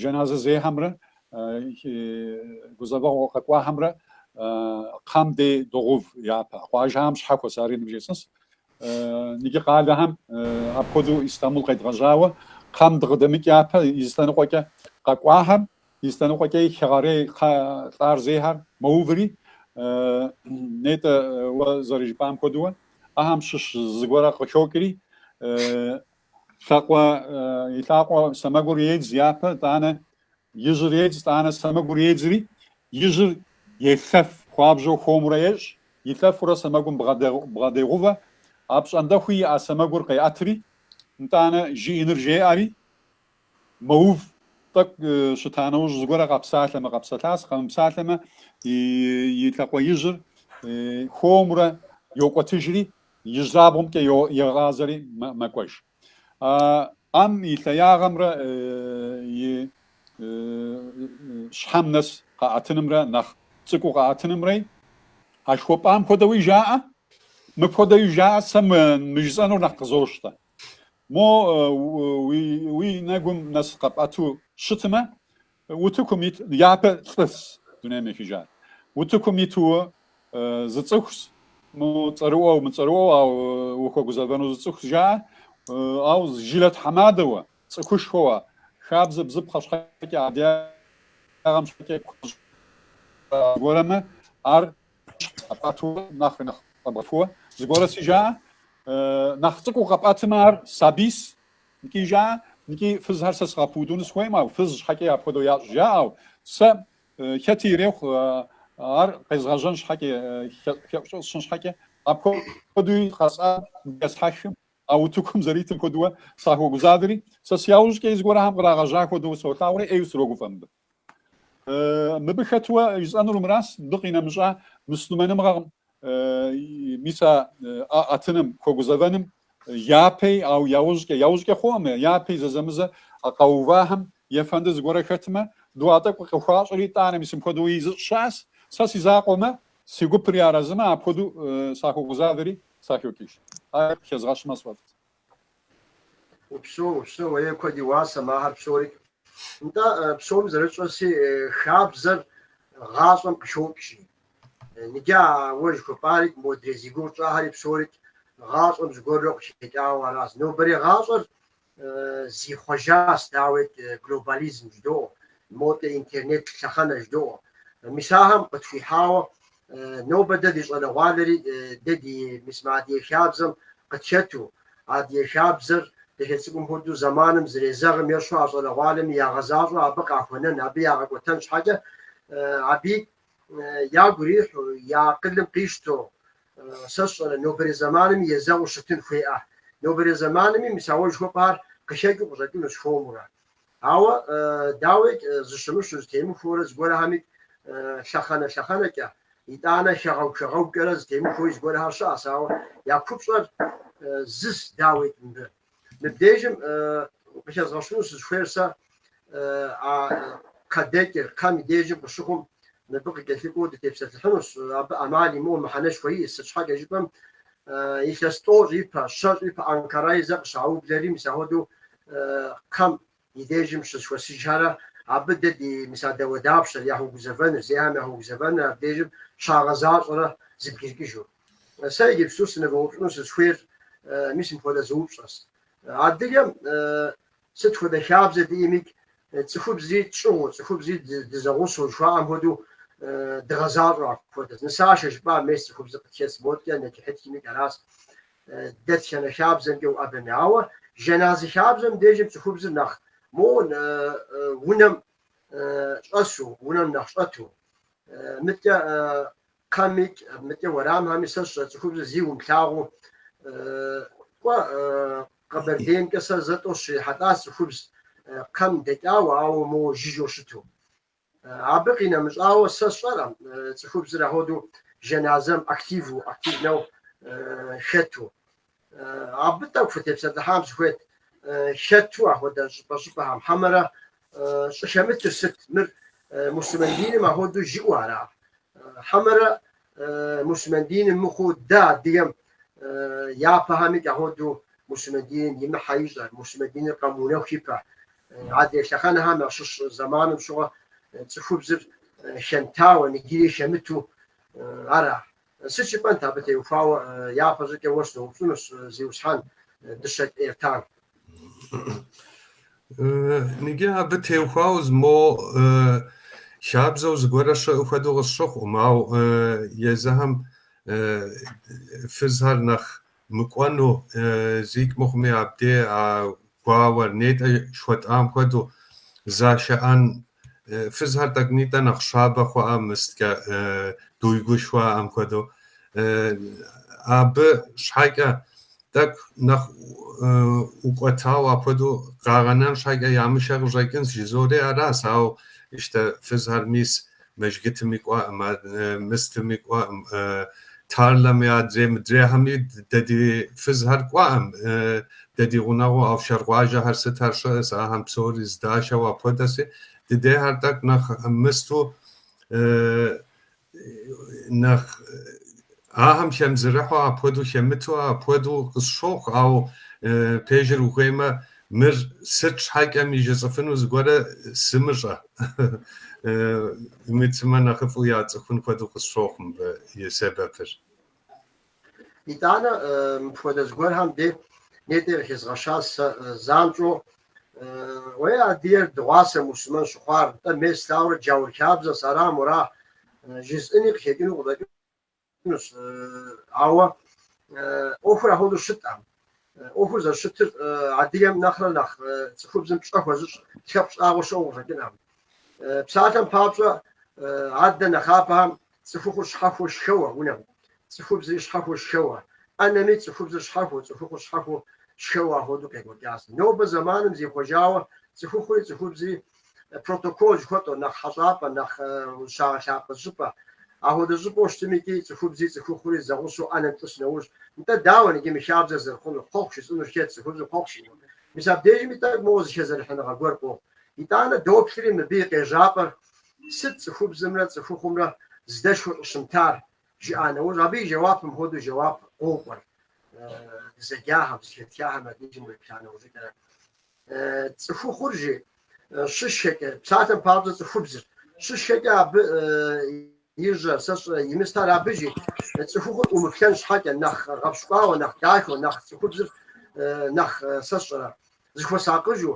[SPEAKER 3] Жэназэ зехьэмрэ гузэвэгъуэ къэкӏуахэмрэ кхъэм дей догъэув япэ. Къуажэхэм щхьэхуэщ, ари ныбжесӏэнщ. Иджы къалэхэм апхуэдэу Истамбул къедгъэжьауэ кхъэм дыкъыдэмыкӏ япэ и зы лъэныкъуэкӏэ къэкӏуахэм, и зы лъэныкъуэкӏи хэгъэрей кхъэ лӏар зейхэр мэуври, нетӏэ уэ зэрыжыпӏам хуэдэуэ, ахэм щыщ зыгуэрэ къыхокӏри, Лъакъуэ и лъакъуэ сэмэгур едз япэ тӏанэ, ижьыр едз тӏанэ сэмэгур едзри, ижьыр елъэф хуабжьэу хуэмурэ ещӏ, илъэфурэ сэмэгум бгъэдегъувэ, апщӏондэхуи и ӏэ сэмэгур къеӏэтри, нтӏанэ жиӏэныр жеӏэри, Мэув, тӏэкӏу щыта нэужь зыгуэрэ къэпсалъэмэ, къэпсэлъащ, къэмыпсалъэмэ, и лъакъуэ ижьыр хуэмурэ йокӏуэтыжри, ижьырабгъумкӏэ егъазэри мэкӏуэж. ӏэм и лъэягъэмрэ и щхьэм нэс къэӏэтынымрэ нэхъ цӏыкӏуу къэӏэтынымрэи а жыхуэпӏам хуэдэуи жаӏэ, мыпхуэдэуи жаӏэ, сэ мы жысӏэнур нэхъ къызощтэ. Мо уи нэгум нэс къэпӏэту щытмэ, утыкум ит, япэ лӏыс дунейм ехыжар, утыкум итууэ зы цӏыхущ, мыцӏэрыӏуэу, мыцӏэрыӏуэу, ау ухуэгузэвэну зы цӏыхущ жаӏэ, ау жылэ тхьэмадэуэ, цӏыхушхуэуэ, хабзэ бзыпхъэ щхьэкӏэ, адыгагъэм щхьэкӏэ куэщӏ зыгуэрэмэ, ар къэпӏэтурэ нэхъри нэхъ къэбгъэхууэ зыгуэрэси жаӏэ. Нэхъ цӏыкӏуу къэпӏэтымэ ар сабийс нкӏи жаӏэ, нкӏи фызхэр сэ сыгъэпудуну сыхуейм, ау фыз щхьэкӏи апхуэдэу ящӏ жаӏэу. Сэ хэти ирехъу ар къезгъэжьэн щхьэкӏи, хэӏущӏыӏу сщӏын щхьэкӏи, апхуэдэуи къэсӏэт-есхьэхым, а утыкум зэритым хуэдууэ сахуэгузавэри, сэ си яужькӏэи зыгуэрхэм кърагъэжьа хуэдэу солъагъури ӏейуэ срогуфӏэ мыбы. Мыбы хэтуэ жысӏэнур мыращ, мыбы къинэмыщӏа муслъымэныгъэкъым мис а ӏэтыным, хуэгузэвэным япэи, ау яужькӏэ, яужькӏэ хъуӏэм, япэи зэзэмызэ а къэувахэм ефэнды зыгуэрэ хэтмэ, дуа тӏэкӏу къыхуащӏри итӏанэ, мис мыпхуэдэуи зыщӏ щыӏэс, сэ си закъуэмэ, си гупыр арэзымэ, апхуэдэу сахуэгузавэри сахокӏыж. Ар хезгъэщмэ сфӏэфӏт.
[SPEAKER 1] Упсэу, упсэу, е куэд и уасэ мыхэр псори. Нтӏэ, псоми зэрытщӏэси, хабзэр гъащӏэм къыхокӏри. Ныджы а уэ жыхуэпӏари модрей зи гугъу тщӏахэри псори гъащӏэм зыгуэрурэ къыхэкӏауэ аращ. Нобэрей гъащӏэр зихъуэжащ, дауикӏ, глобализм жыдоӏэ, модэ, интернет лъэхъэнэ жыдоӏэ. Мис ахэм къытхуихьауэ Нобэ дэ ди щӏалэгъуалэри дэ ди мис мы Адыгэ хабзэм къытхэту, Адыгэ хабзэр дахэ цӏыкӏум хуэдэу зэманым зэрезэгъым ещхьу а щӏалэгъуалэми ягъэзащӏэу абы къахуэнэн, абы ягъэкӏуэтэн щхьэкӏэ абы ягу ирихьу, я акъылым къищтэу, сэ сщӏэрэ, нобэрей зэмаными езэгъыу щытын хуеӏэ. Нобэрей зэмаными мис а уэ жыхуэпӏар къыхэкӏыу къыщӏэкӏынущ хуэмурэ. Ауэ, дауикӏ, зэщымыщу, зэтемыхуэурэ зыгуэрхэми лъэхъэнэ-лъэхъэнэкӏэ, итӏанэ хэгъэгу-хэгъэгукӏэрэ зэтемыхуэуи зыгуэрхэр щыӏэщ, ауэ я купщӏэр зыс, дауикӏ, мыбы. Мыбдежым къыхэзгъэщыну сызыхуейр сэ а кхъэдэкӏыр, кхъэм и дежым къыщыхъум, мыбы къыкӏэлъыкӏуэу дытепсэлъыхьынущ, абы ӏэмал имыӏэу мыхьэнэшхуэ иӏэщ, сыт щхьэкӏэ жыпӏэм, илъэс тӏощӏ ипэ, щэщӏ ипэ Анкараи зэ къыщаублэри, мис ахуэдэу кхъэм и дежым щызэхуэсыжхэрэ абы дей мис а дауэдапщэр, яхуэгузэвэныр, зейхэм яхуэгузэвэныр абдежым щагъэзащӏэрэ зыбгиркӏыжу. Сэ иджыпсту сынывэупщӏыну сысхуейр мис мыпхуэдэ зы упщӏэс. Адыгэм сыт хуэдэ хабзэ диӏэмикӏ, цӏыхубзри тщӏыгъуу, цӏыхубзри дызэгъусэу жыхуаӏэм хуэдэу дыгъэзащӏэу апхуэдэс. Нысашэ жыпӏа мес цӏыхубзыр къытхес моткӏэ нэчыхьытхымикӏ арас. Дэтхэнэ хабзэмкӏэ уӏэбэми. Ауэ жэназы хабзэм дежым цӏыхубзыр нэхъ мо унэм щӏэсу, унэм нэхъ щӏэту. Мыткӏэ кхъэм икӏ, мыткӏэ уэрамхэми сэ сщӏэ цӏыхубзыр зи умылъагъуу. Кӏуэ Къэбэрдеймкӏэ сэ зэ тӏэу сыщрихьэлӏащ цӏыхубз кхъэм дэкӏауэ, ауэ моуэ жыжьэу щыту. Абы къинэмыщӏауэ сэ сщӏэркъым цӏыхубзыр ахуэдэу жэназэм активу, активнэу хэту. Абы тӏэкӏу фытепсэлъыхьам сыхуейт, хэту ахуэдэ щӏыпӏэ-щӏыпӏэхэм. Хьэмэрэ щӏыхэмытыр сыт? Мыр муслъымэн диным ахуэдэу жиӏэу ара? Хьэмэрэ мусульман диным мыхъуу дэ адыгэм япэхэмикӏ ахуэдэу мусульман диным имыхьэ ищӏэ, мусульман диныр къэмыунэху ипэ. Адрей лъэхъэнэхэм ящыщ зэманым щыгъуэ цӏыхубзыр хэмытауэ, нигири хэмыту ара? Сыт жыпӏэнт абы теухуауэ япэщӏыкӏэ уэ сыноупщӏынущ, Зиусхьэн, Дыщэкӏ Эртан?
[SPEAKER 2] Ныги абы теухуау зы мо хабзэу зыгуэрэ щыӏу хуэдэу къысщыхъум, ауэ езыхэм фызхэр нэхъ мыкӏуэну зикӏ мыхъуми, абдей а гуауэр нетӏэ жыхуэтӏам хуэдэу зашыӏэн Фызхэр тӏэкӏу нтӏэ нэхъ щабэ хъуӏэ мысткӏэ дуйгу жыхуаӏэм хуэдэу. Абы щхьэкӏэ тӏэкӏу нэхъ ӏукӏуэтауэ апхуэдэу къагъэнэн щхьэкӏэ ямышэу къыщӏэкӏынщ жызори аращ, ауэ ищтэ фызхэр мис мэжгытыми кӏуэӏым, мыстыми кӏуэӏым, Тарлэми, адрей мыдрейхэми дэ ди фызхэр кӏуэӏым, дэ ди гъунэгъуу Афшар къуажэхэр сыт ар щыӏэс, ахэм псори здашэу апхуэдэси, дыдейхэр тӏэкӏу нэхъ мысту, нэхъ ахэм хемызэрыхьу апхуэдэу, хемыту апхуэдэу къысщохъу, ауэ пежыр ухуеймэ, Мыр сыт щхьэкӏэми жысӏэфыну зыгуэрэ сымыщӏэ. Мы цымэ нэхъыфӏу яцӏыхун хуэдэу къысщохъу мыбы и сэбэпыр.
[SPEAKER 1] Итӏанэ мыпхуэдэ зыгуэрхэм дей нетӏи къыхезгъэщащ сэ занщӏэу. Уеи, адыгэр дыгъуасэ мусульмэн щыхъуар, нтӏэ, мыстэурэ джаур хабзэщ, ара, мыра, жызыӏэни къыхекӏыну къыдэкӏынущ. Къэкӏынущ, ауэ ӏуэхур апхуэдэу щыткъым. ӏуэхур зэрыщытыр адыгэм нэхърэ нэхъ цӏыхубзым пщӏэ хуэзыщӏ лъэпкъ щӏагъуэ щыӏэу къыщӏэкӏынкъым. Псалъэм папщӏэ, адэ нэхъапэхэм цӏыхухъур щхьэхуэу щхэуэ унэм, цӏыхубзри щхьэхуэу щхэуэ ӏэнэми, цӏыхубзыр щхьэхуэу, цӏыхухъур щхьэхуэу щхэуэ апхуэдэу къекӏуэкӏащ. Нобэ зэманым зихъуэжауэ цӏыхухъури цӏыхубзри протокол жыхуэтӏэу, нэхъ хьэщӏапӏэ, нэхъ ущагъэлъапӏэ щӏыпӏэ. Апхуэдэ щӏыпӏэу щытым икӏи цӏыхубзи цӏыхухъури зэгъусэу ӏэнэм тӏыс нэужь, нтӏэ, дауэ иджы мы хабзэр зэрыхъунур, хъуэхъу жиӏэнур хэт, цӏыхубзыр хъуэхъу щӏыну. Мис абдежми тӏэкӏу моуэ зыхэзэрыхьыныгъэ гуэр къохъу. Итӏанэ доплъри мыбы и къежьапӏэр сыт цӏыхубзымрэ цӏыхухъумрэ здэшхуэ щӏыщымтар, жиӏа нэужь, абы и жэуапым хуэдэу жэуап къокӏуэр, дызэджахэм, зытетхахэм я деж уеплъа нэужьыкӏэрэ. Цӏыхухъур жи щыщхэкӏэ, псалъэм папщӏэ цӏыхубзыр щыщхэкӏэ абы и жьэр, сэ щӏэ, и мыстэр абы жи цӏыхухъур ӏумыплъэн щхьэкӏэ, нэхъ гъэпщкӏуауэ, нэхъ дахэу, нэхъ цӏыхубзыр нэхъ, сэ щӏэ, зыхуэсакъыжу,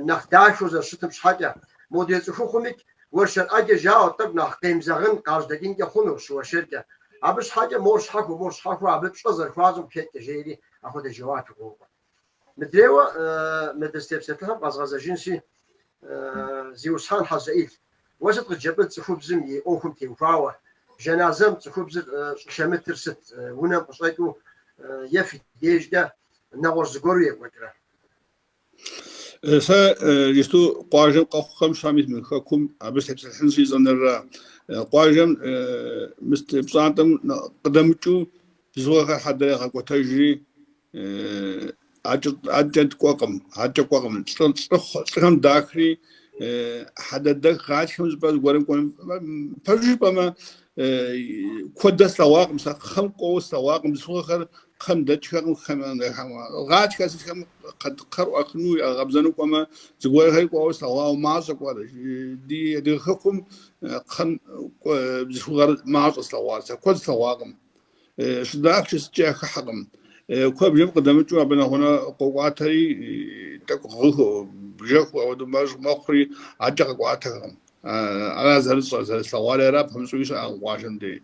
[SPEAKER 1] нэхъ дахэу зэрыщытым щхьэкӏэ. Модрей цӏыхухъумикӏ уэршэр ӏэджэ жаӏэу тӏэкӏу нэхъ къемзэгъын, къажьэдэкӏынкӏэ хъуну щыуэршэркӏэ. Абы щхьэкӏэ мор щхьэхуэу, мор щхьэхуэу абы пщӏэ зэрыхуащӏым къыхэкӏкӏэ, жери апхуэдэ жэуап игъуэу. Мыдрейуэ мы дызытепсэлъыхьым къэзгъэзэжынщи, Зиусхьэн Хьэзэӏил, уэ сыт къыджепӏэн цӏыхубзым и ӏуэхум теухуауэ? Жаназэм цӏыхубзыр щӏыхэмытыр сыт, унэм къыщӏэкӏыу е фи дежкӏэ нэгъуэщӏ зыгуэру екӏуэкӏрэ?
[SPEAKER 4] Сэ иджыпсту къуажэм къэхъухэм Щам ит мы хэкум абы сытепсэлъыхьын си щӏэныр ара? Къуажэм мы пщӏантӏэм къыдэмыкӏыу бзылъхугъэхэр хьэдэр ягъэкӏуэтэжри, акӏэ кӏуэкъым, акӏэ кӏуэкъым. Лӏыхэм дахри, хьэдэдэх гъатхэм жыпӏэ зыгуэрым кӏуэным. Пэжу жыпӏэмэ, куэдэ слъэгъуакъым сэ, кхъэм кӏуэуэ слъэгъуакъым, бзылъхугъэхэр кхъэм дэкӏхэкъым, кхъэм гъатхэ сытхэм кхъэр ӏуахыну, ягъэкъэбзэну кӏуэмэ, зыгуэрхэр кӏуэуэ слъэгъуауэ, мащӏэ кӏуэр. Ди адыгэ хэкум кхъэм бзылъхугъэр мащӏэ слъэгъуар сэ, куэд слъэгъуакъым. Щыдахкӏэ сыткӏэ яхыхьэкъым. Куэбжэм къыдэмыкӏыу абы нэгъунэ къокӏуатэри, тӏэкӏу гъыгыу, бжэхыу ауэдэу мэщӏ мэхъури, аркӏэ къэкӏуатэхэкъым. Ара зэрысщӏэр, зэрыслъэгъуари ара, пэмыщӏуи щыӏэкъым къуажэм дей.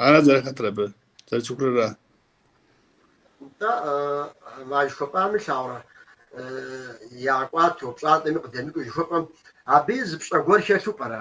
[SPEAKER 4] Ара зэрыхэтыр абы, зэрысцӏыхур ара. Нтӏэ, а жыхуэпӏами лъагъурэ, ягъэкӏуатэу,
[SPEAKER 1] пщӏантӏэми къыдэмыкӏыу жыхуэпӏэм, абыи зы пщӏэ гуэр хэлъу пӏэрэ?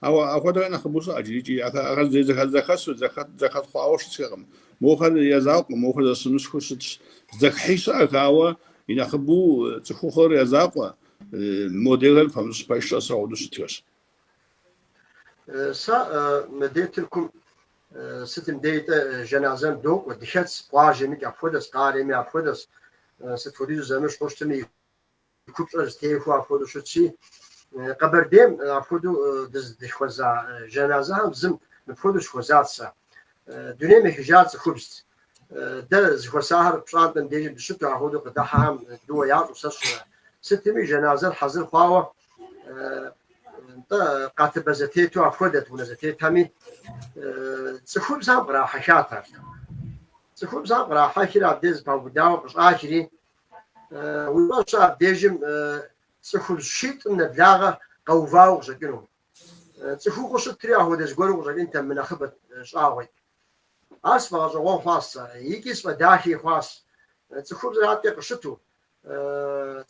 [SPEAKER 4] Ауэ апхуэдэхэр нэхъыбэу щыӏэ иджырикӏи. Ахэр зэхэсу, зэхэс хъуауэ щытхэкъым. Мохэр я закъуэм, мохэр зэщымыщхэу щытщ. Зэхыхьи щыӏэх, ауэ и нэхъыбэу цӏыхухъухэр я закъуэ, модрейхэр пэмыщӏ пэш щӏэс хуэдэу щытхэщ. Сэ
[SPEAKER 1] мыбдей Тыркум сытым дейтӏэ, жэназэм докӏуэ, дыхэтс, къуажэми апхуэдэс, къалэми апхуэдэс, сыт хуэдизу зэмыщхьу щытми. И купщӏэр зэтехуэу апхуэдэу щытщи, Къэбэрдейм апхуэдэу дыздыхуэза жэназэхэм зым мыпхуэдэу сыхуэзат сэ. Дунейм ехыжар цӏыхубзт. Дэ зэхуэсахэр пщӏантӏэм дежи дыщыту апхуэдэу къыдыхьэхэм дыуэ ящӏу сэ сщӏэ. Сытми, жэназэр хьэзыр хъуауэ, нтӏэ, къатыбэ зэтету апхуэдэт унэ зэтетхэми. Цӏыхубзхэм кърахьэхат ар. Цӏыхубзхэм кърахьэхри абдеж зэпаубыдауэ къыщӏахри. Уи фӏэщ щӏы, абдежым цӏыхубз щитӏым нэблагъэ къэувауэ къыщӏэкӏыну? Цӏыхухъуу щытри ахуэдэ зыгуэру къыщӏэкӏынтэ, мынэхъыбэт щӏагъуи. Ар сфӏэгъэщӏэгъуэн хъуащ сэ, икӏи сфӏэдахи хъуащ. Цӏыхубзыр аткӏэ къыщыту,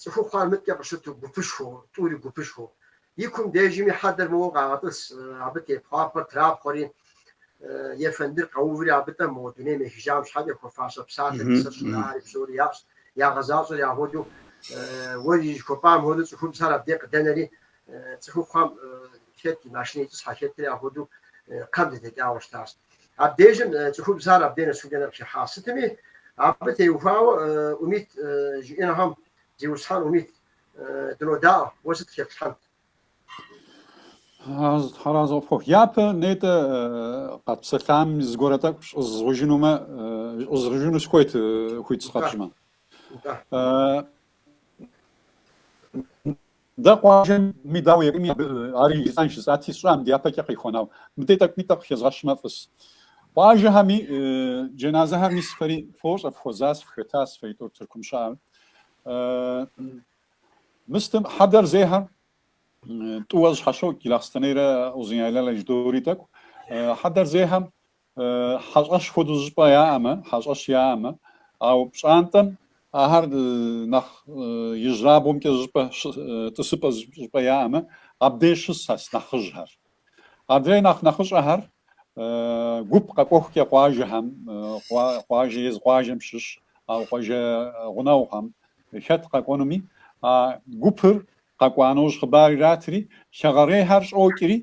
[SPEAKER 1] цӏыхухъухэр мыткӏэ къыщыту гупышхуэу, тӏури гупышхуэу. И кум дежми хьэдэр моуэ къагъэтӏыс, абы тепхъуапхъэр трапхъуэри, ефэндыр къэуври абы тӏэ мо дунейм ехыжам щхьэкӏэ хуэфащэ псалъэ, нысэр щӏынари псори яӏэщ, ягъэзащӏэри ахуэдэу, уэ жыхуэпӏам хуэдэу цӏыхубзхэр абдей къыдэнэри, цӏыхухъухэм хэти машинэ итӏысхьэ, хэти ахуэдэу кхъэм дыдэкӏауэ щытащ. Абдежым цӏыхубзхэр абдей нэсу дэнэ къыхыхьащ. Сытми, абы теухуауэ Умит жиӏэнхэм. Зиусхьэн Умит Дынодаӏуэ, уэ сыт
[SPEAKER 3] къытеплъхьэнт? Тхьэр арэзы пхухъу, япэ нетӏэ къэтпсэлъам зыгуэрэ тӏэкӏу щӏызгъужынумэ, щӏызгъужыну сыхуейт хуит сыкъэпщӏмэ. Дэ къуажэми дауэ екӏуми абы ари жысӏэн жысӏати сщӏам дяпэкӏэ къихуэн, ауэ мыдэ тӏэкӏуми тӏэкӏу къыхэзгъэщмэ фӏыс. Къуажэхэми джэназэхэр мис фэри фощӏэ, фыхуэзас, фыхэтас, фэ тӏур Тыркум щыӏэ. Мыстым хьэдэр зейхэм тӏууэ зэщхьэщокӏ Гилахъстэнейрэ Узуняйлэрэ жыдоӏэри тӏэкӏу. Хьэдэр зейхэм хьэщӏэщ хуэдэу зыщӏыпӏэ яӏэмэ, хьэщӏэщ яӏэмэ, ау пщӏантӏэм ахэр нэхъ ижьырабгъумкӏэ зыщӏыпӏэ, тӏысыпӏэ зыщӏыпӏэ яӏэмэ, абдеж щысхэс нэхъыжьхэр. Адрей нэхъ нэхъыщӏэхэр гуп къэкӏуэхукӏэ къуажэхэм, къуажэ езы къуажэм щыщ а къуажэ гъунэгъухэм хэт къэкӏуэнуми, а гупыр къэкӏуа нэужь хъыбар иратри, хэгъэрейхэр щӏокӏри,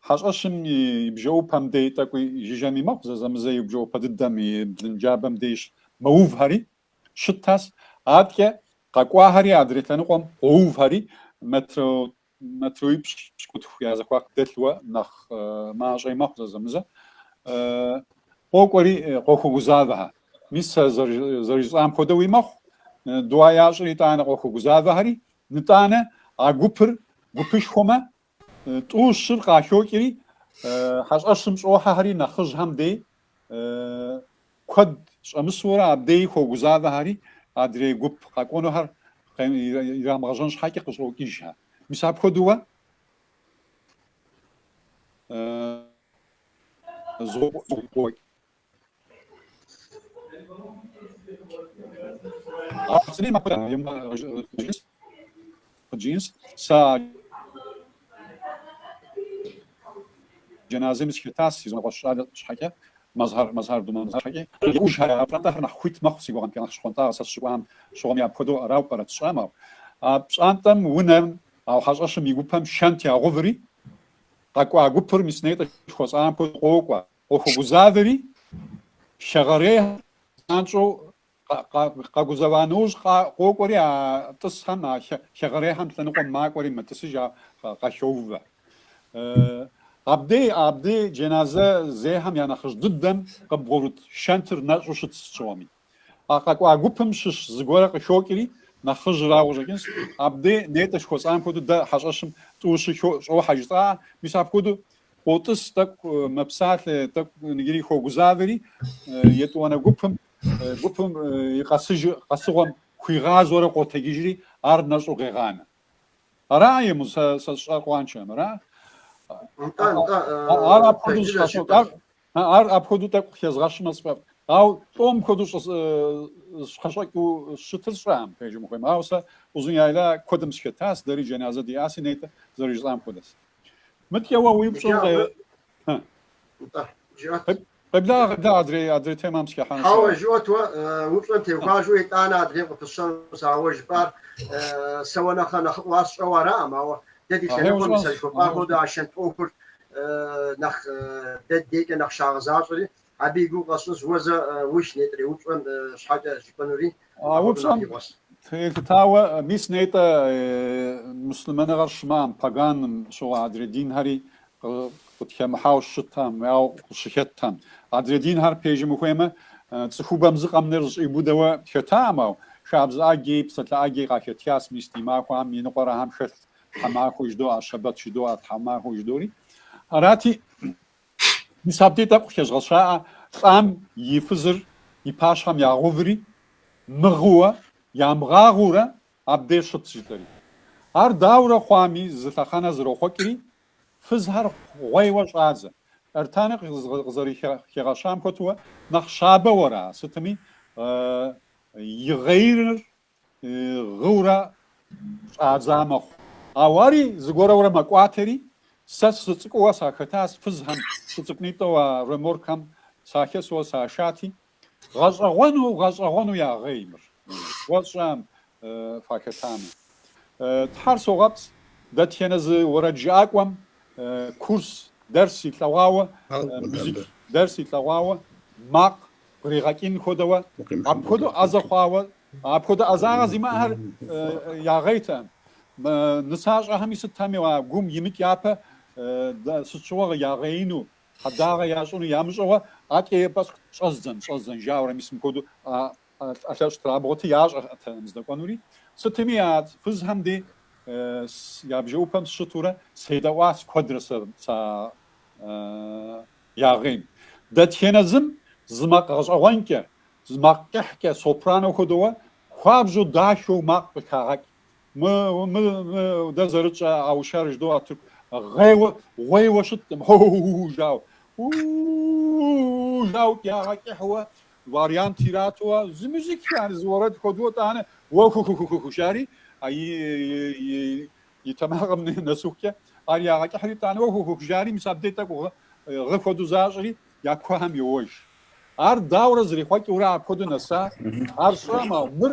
[SPEAKER 3] хьэщӏэщым и бжэӏупэм дей тӏэкӏуи жыжьэми мэхъу, зэзэмызэ и бжэӏупэ дыдэм и блын джабэм деж мэувхэри щытхэс, аткӏэ къэкӏуахэри адрей лъэныкъуэм къоувхэри, метр Метрипщӏ пщыкӏутху я зэхуаку дэлъуэ нэхъ мащӏэи мэхъу зэзэмызэ. Къокӏуэри къохуэгузавэхэ. Мис сэ зэрыжысӏам хуэдэуи мэхъу, дуа ящӏыр итӏанэ къохуэгузавэхэри, нытӏанэ а гупыр гупышхуэмэ, тӏу щыр къахокӏри, хьэщӏэщым щӏохьэхэри нэхъыжьхэм дей куэд щӏэмысурэ абдеи хуогузавэхэри адрей гуп къэкӏуэнухэр ирамыгъэжьэн щхьэкӏэ къыщӏокӏыжхэ. Мис апхуэдэуэ згъуокӏ. Апцӏри махуэ Джинс, сэ а джэназэми сыхетащ, си зы унэкъуэщ щӏалэ щхьэкӏэ, Мазхар, Мазхар Думанзар щхьэкӏи. Иужь а пщӏантӏэхэр нэхъ хуит мэхъу, си гугъэмкӏэ нэхъ щхъуантӏагъэ сэ сыщыкӏуам щыгъуэми апхуэдэу арауэ пӏэрэт сщӏэӏым, ауэ а пщӏантӏэм унэм а хьэщӏэщым и гупэм шэнт ягъэуври, къэкӏуа гупыр мис нетӏэ жыхуэсӏам хуэдэу къокӏуэ, къохуэгузавэри, хэгъэрейхэр занщӏэу Къэгузэва нэужь къокӏуэри а тӏысхэм, а хэгъэрейхэм лъэныкъуэм макӏуэри мэтӏысыж, ар къахоувэ. Абдей, абдей джэназэ зейхэм я нэхъыжь дыдэм къыбгъурыт шэнтыр нэщӏу щыт сыт щыгъуэми. А къэкӏуа гупым щыщ зыгуэрэ къыхокӏри, нэхъыжьрауэ щӏэкӏынщ, абдей нетӏэ жыхуэсӏам хуэдэу дэ хьэщӏэщым тӏу щы щӏохьэ жысӏа, мис апхуэдэу къотӏыс, тӏэкӏу мэпсалъэ, тӏэкӏу иджыри хуогузавэри, етӏуанэ гупым Гупым и къэсыжы къэсыгъуэм хуигъазэурэ къотэджыжри, ар нэщӏу къегъанэ. Араи, мо, сэ сэ-сщӏар къуаншэм, ара? Ар апхуэдэу сфӏэфӏ, ар, ар апхуэдэу тӏэкӏу къыхезгъэщымэ сфӏэфӏ. Ауэ лӏом хуэдэу зэщхьэщыкӏыу щытыр сщӏэӏым, пежым хуейм. Ауэ сэ Узун Яйла куэдым сыхетащ, дэри джэназэ диӏаси нетӏэ, зэрыжысӏам хуэдэс. Мыткӏэ уэ уи упщӏэр къе... Къеблагъэ, къеблагъэ, адрей, адрей темэм сыхехьэн. Хьэуэ,
[SPEAKER 1] жыӏуэт уэ, упщӏэм теухуауэ, итӏанэ адрейм къыпысщэнущ, ауэ жыпӏар сэ уэ нэхърэ нэхъыфӏу ар сщӏэуэ араӏым, ауэ дэ ди Ахьей лъэныкъуэм и ущӏэнщ, сэжыхуэпӏам ахьей хуэдэу ущӏэнщ. а шэнт ӏуэхур нэхъ дэ ди дейкӏэ нэхъ щагъэзащӏэри, абы и гугъу къэсщӏынщ, уэ зэ ух нетӏрей упщӏэм щхьэкӏэ жыпӏэнури. А
[SPEAKER 3] упщӏэм телъытауэ, мис нетӏэ муслъымэныгъэр щымыӏэм, паганым щыгъуэ адрей динхэри къытхемыхьауэ щытам, ауэ къыщыхэтам. Адрей динхэр пежьым ухуеймэ, цӏыхубэм зы къэмынэу зэщӏиубыдэуэ хэтаӏым, ау хабзэ ӏэджи, псалъэ ӏэджи къахэтхас, мис ди махуэхэм иныкъуэрэхэм хэлъ тхьэмахуэ жыдоӏэ, щэбэт жыдоӏэ, тхьэмахуэ жыдори. Арати, Мис абди тӏэкӏу хещӏгъэщаӏэ лӏам и фызыр и пащхьэм ягъуври, мыгъыуэ, ямыгъагъыурэ абдей щытщ, жытӏэри. Ар дауэрэ хъуами, зы лъэхъэнэ зэрохъуэкӏри, фызхэр гъуейуэ щӏадзэ. Эртани къызэрыхигъэщам хуэдэу, Нэхъ щабэ уэра, сытми, игъейрыр гъыурэ щӏадза мэхъу. Ауэ ари зыгуэрэурэ мэкӏуатэри, сэ сыцӏыкӏууэ сахэтащ фызхэм, сыцӏыкӏунитӏэу а реморкхэм сахэсуэ сашати, гъэщӏэгъуэну, гъэщӏэгъуэну ягъей мыр, уэщӏэм фахэтамэ. Тхьэр согъэпцӏ, дэтхэнэ зы уэрэджыӏакӏуэм курс, дэрс илъэгъуауэ, музык дэрс илъэгъуауэ макъ Къригъэкӏын хуэдэуэ, апхуэдэу ӏэзэ хъуауэ, апхуэдэ ӏэзагъэ зимыӏэхэр ягъейтэкъым. Нысащӏэхэми сытми а гум имыкӏ япэ сыт щыгъуэ ягъеину, хьэдагъэ ящӏыну ямыщӏэуэ атӏеипӏэщ щӏэздзэн, щӏэздзэн жауэрэм мис мыпхуэдэу ӏэлъэщӏ трабгъуэти ящӏэртэкъым здэкӏуэнури. Сытми а фызхэм дей я бжэӏупэм сыщытурэ седэӏуащ куэдрэ сэ Ягъейм. Дэтхенэ зым зы макъ гъэщӏэгъуэнкӏэ, зы макъ кӏыхькӏэ, сопрано хуэдэуэ, хуабжьу, дахэу макъ къыхагъэкӏ. Мы-мы-мы, дэ зэрытщӏэ аущар жыдоӏэ тырку гъейуэ, гъуейуэ щыткъым, хо-у-у-у жауэ, у-у-у-у жауэ ягъэкӏыхьуэ, вариант иратуэ, зы музык яни, зы уэрэд хуэдэуэ тӏанэ, уэ ху-ху-ху-ху-ху жари, а и И тэмакъым нэсыхукӏэ ар ягъэкӏыхьри, тӏанэ уэ хуэ-ху жари, мис абдей тӏэкӏу гъы хуэдэу защӏри, я куэхэм йоуэж. Ар дауэрэ зэрихъуэкӏыурэ апхуэдэу нэса, ар сщӏэм, ауэ мыр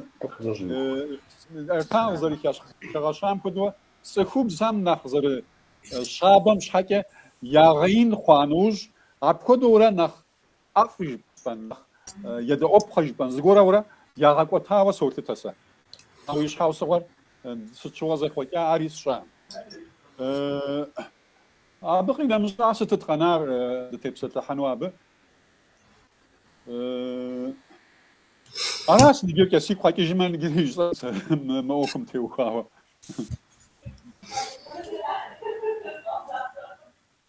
[SPEAKER 3] Эртан къызэрыхигъэщам хуэдэу, цӏыхубзхэм нэхъ зэрыщабэм щхьэкӏэ ягъеин хъуа нэужь, апхуэдэурэ нэхъ ӏэфӏ жыпӏэн, нэхъ едэӏуэпхъэ жыпӏэн зыгуэрурэ ягъэкӏуэтауэ солъытэ сэ. Ауэ и щхьэусыгъуэр сыт щыгъуэ зэхъуэкӏа, ари сщӏэм. Абы къинэмыщӏа сытыт къэнар дытепсэлъыхьэну абы? Аращ ныджэкӏэ сигу къэкӏыжмэ ныгыри жысӏэн сэ мы ӏуэхум теухуауэ.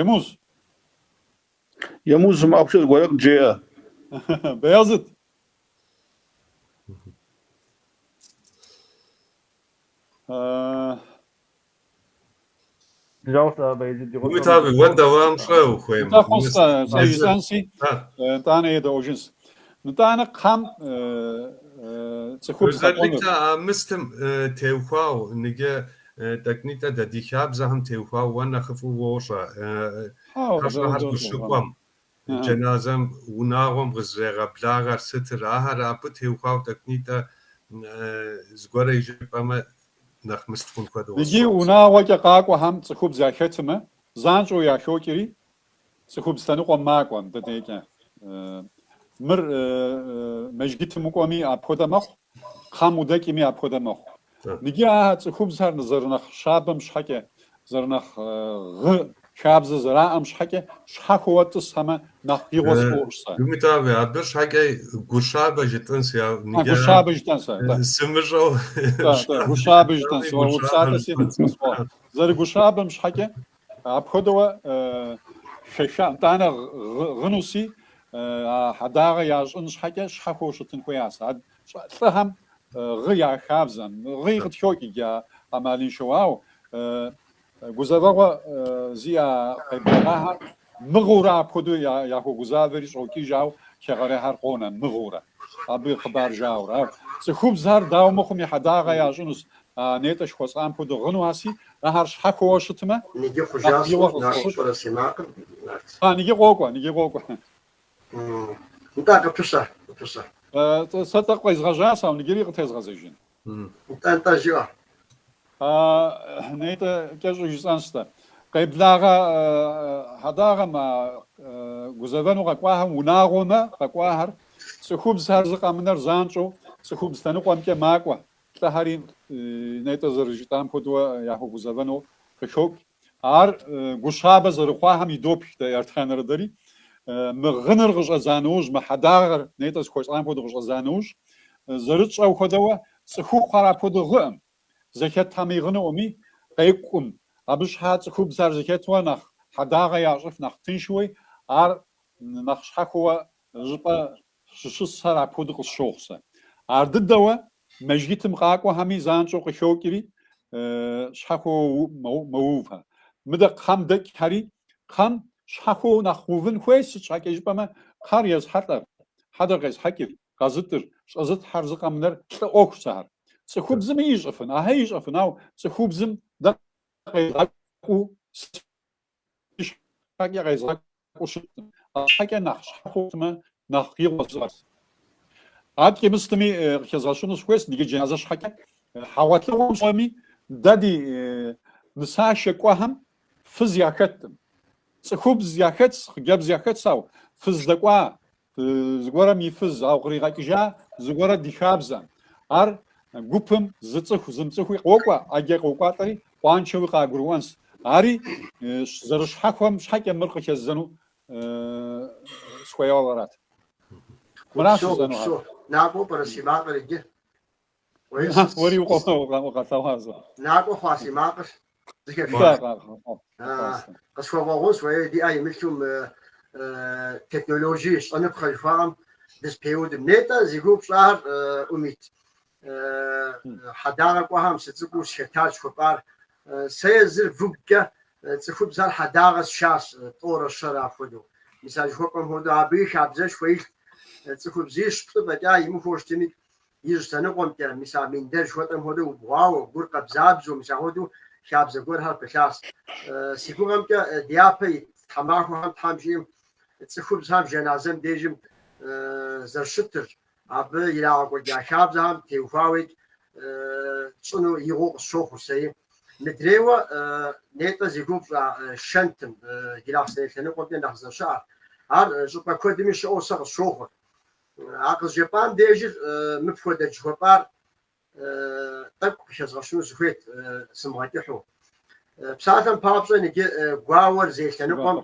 [SPEAKER 3] Емуз.
[SPEAKER 4] Емуз макъкӏэ зыгуэрэ къыджеӏэ.
[SPEAKER 3] Баязыт. Э
[SPEAKER 2] Умит аби, уэ девам щӏэ ухуейм? Тӏэкӏу сэ, сэ
[SPEAKER 3] жысӏэнси, нтӏанэ едэӏуэжынщ. Нтӏанэ кхъэм
[SPEAKER 2] цӏыхубз къэкӏуэнур. Özellikle а мыстым теухуау, ныгэ тӏэкӏунитӏэ дэ ди хабзэхэм теухуау уэ нэхъыфӏу уощӏэ, хьэщӏэхэр къыщыкӏуэм. Джэназэм унагъуэм къызрегъэблагъэр сытыр? Ахэр абы теухуауэ тӏэкӏунитӏэ зыгуэрэ жыпӏэмэ, нэхъ мыст хъун хуэдэу. Иджы унагъуэкӏэ
[SPEAKER 3] къакӏуэхэм цӏыхубз яхэтымэ, занщӏэу яхокӏри, цӏыхубз лъэныкъуэм макӏуэ, мыдэ декӏэ. Мыр мэжгытым укӏуэми апхуэдэ мэхъу. Кхъэм удэкӏми апхуэдэ мэхъу. Ныги а цӏыхубзхэр зэрынэхъ щабэм щхьэкӏэ, зэрынэхъ гъы хабзэ зэраӏэм щхьэкӏэ щхьэхуэуэ тӏысхьэмэ нэхъ игъуэ сфӏощӏ сэ. Умит аби,
[SPEAKER 2] абы щхьэкӏэ Гущабэ жытӏэнси. А, Гущабэ
[SPEAKER 3] жытӏэн сэ, да. Сымыщӏэу
[SPEAKER 2] щӏа. Да, да,
[SPEAKER 3] Гущабэ жытӏэн сэ, уэ упсалъэ си къысфӏо. Зэрыгущабэм щхьэкӏэ Апхуэдэуэ шэша, нтӏанэ гъынуси, а хьэдагъэ ящӏын щхьэкӏэ щхьэхуэу щытын хуеяс. А лӏыхьэм гъы я хабзэм, гъыи къытхокӏ иджы а ӏэмалыншэу, ау гузэвэгъуэ зиӏа къеблэгъахьэр мыгъыурэ апхуэдэу яхуэгузавэри щӏокӏыж, ау хэгъэрейхьэр къонэ мыгъыурэ, абы хъыбар жаӏэурэ. Ау цӏыхубзхэр дауэ мыхъуми хьэдагъэ ящӏынущ, А нетӏэ зыхуэсӏам хуэдэ гъынухьэси, ахэр щхьэхуэуэ щытмэ, Ныги нэхъ хъужащ бийуэ
[SPEAKER 1] ӏур, насыу къысхуощӏ. щӏэрэ си макъым, Нарт. А,
[SPEAKER 3] ныги къокӏуэ, ныги къокӏуэ.
[SPEAKER 1] Нтӏэ, къытусэ, къытусэ.
[SPEAKER 3] Тӏ, сэ тӏэкӏу къезгъэжьас, ауэ ныгири къытезгъэзэжын. Нтӏэ,
[SPEAKER 1] нтӏэ, жыӏэ.
[SPEAKER 3] А, нетӏэ, кӏэщӏу жысӏэнщ сэ. Къеблагъэ хьэдагъэм, а гузэвэну къэкӏуахэм унагъуэмэ къэкӏуахэр, цӏыхубзхьэр зыкъэмынэр занщӏэу цӏыхубз лъэныкъуэмкӏэ макӏуэ, Лӏыхьэри, нетӏэ зэрыжытӏам хуэдэуэ, яхуэгузэвэну къыхокӏ. Ар гущабэ зэрыхъуахэм идопх дэ Ертхъанэрэ дэри. Мы гъыныр къыщӏэдза нэужь, мы хьэдагъэр нетӏэ зыхуэсӏам хуэдэу къыщӏэдза нэужь, зэрытщӏэу хуэдэуэ, цӏыхухъухьэр апхуэдэу гъыӏым, зэхэтхьэми гъынуӏыми, къекӏум. Абы щхьа цӏыхубзхьэр зэхэтуэ нэхъ хьэдагъэ ящӏыф, нэхъ тыншуи, ар нэхъ щхьэхуэуэ щӏыпӏэ Щӏыщысхэр апхуэдэу къысщохъу сэ. Ар дыдэуэ мэжгитым къакӏуэхэми занщӏэу къыхокӏри, щхьэхуэуэ мэувхэ. Мыдэ кхъэм дэкӏхэри, кхъэм щхьэхуэуэ нэхъ увын хуей, сыт щхьэкӏэ жыпӏэмэ, кхъэр езыхьэлӏэр, хьэдэр къезыхьэкӏыр, къэзытӏыр, щӏэзылъхьэр зыкъэмынэр лӏы ӏуэхус ахэр. Цӏыхубзми ищӏыфын, ахэр ищӏыфын, ауэ цӏыхубзым дэ къезыгъэкӏуу сыт Щхьэкӏэ къезгъэкӏуу щыткъым, арщхьэкӏэ нэхъ щхьэ хъуртмэ, нэхъ игъуэ зыӏэрт. Аткӏи мыщытми, къыхэзгъэщыну сыхуейст иджы джыназэ щхьэкӏэ. Хьэгъуэлӏыгъуэм щӏэми, дэ ди нысашэ кӏуэхэм фыз яхэткъым. Цӏыхубз яхэтщ, хъыджэбз яхэтщ, ауэ фыз дэкӏуа зыгуэрым и фыз, ауэ къригъэкӏыжа зыгуэрэ ди хабзэм. Ар гупым зыцӏыху зымыцӏыхуи къокӏуэ, ӏэджэ къокӏуатӏэри къуаншэуи къагурыӏуэнщ. Ари зэрыщхьэхуэм щхьэкӏэ мыр къыхэззэну сыхуейуэ арат. Мыращ жысӏэнугъэр. Накӏуэ пӏэрэ си
[SPEAKER 1] макъыр иджы?
[SPEAKER 3] Уэри укъэлъэгъуазэ. Накӏуэ хъуа
[SPEAKER 1] си макъыр зыхешащ. Къысхуэвгъэгъунщ уэи ди ӏэ имылъу мы технологи щӏэныпхъэ жыхуаӏэм дызэпеудым. Нетӏэ зи гугъу пщӏар Умит. Хьэдагъэ кӏуэхэм сыцӏыкӏуу схэтащ жыхуэпӏар. Сэ езыр выгукӏэ цӏыхубзхэр хьэдагъэ сшащ, тӏорэ щэрэ апхуэдэу. Мис а жыхуэпӏэм хуэдэу абыи хабзэшхуэ илът. Цӏыхубзищ плӏы фӏэкӏа имыхуэу щытми, Ижь лъэныкъуэмкӏэ, мис а миндэр жыхуэтӏэм хуэдэу убгъуауэ, гур къэбзабзэу, мис ахуэдэу хабзэ гуэрхэр пылъащ. Си гугъэмкӏэ, дяпэ ит тхьэмахуэхэм Тхьэм жиӏэм, цӏыхубзхэм жэназэм дежым зэрыщытыр, абы ирагъэкӏуэкӏа хабзэхэм теухуауэ тщӏыну игъуэу къысщохъур сэри. Мыдрейуэ, нетӏэ зи гугъу пщӏа шэнтым, Джылахъстэней лъэныкъуэмкӏэ нэхъ зэщыӏэр. Ар щӏыпӏэ куэдми щыӏэу сэ къысщохъур. А къызжепӏам дежыр мыпхуэдэт жыхуэпӏар тӏэкӏу къыхэзгъэщыну сыхуейт сымыгъэкӏыхьу. Псалъэм папщӏэ иджы гуауэр зей лъэныкъуэм,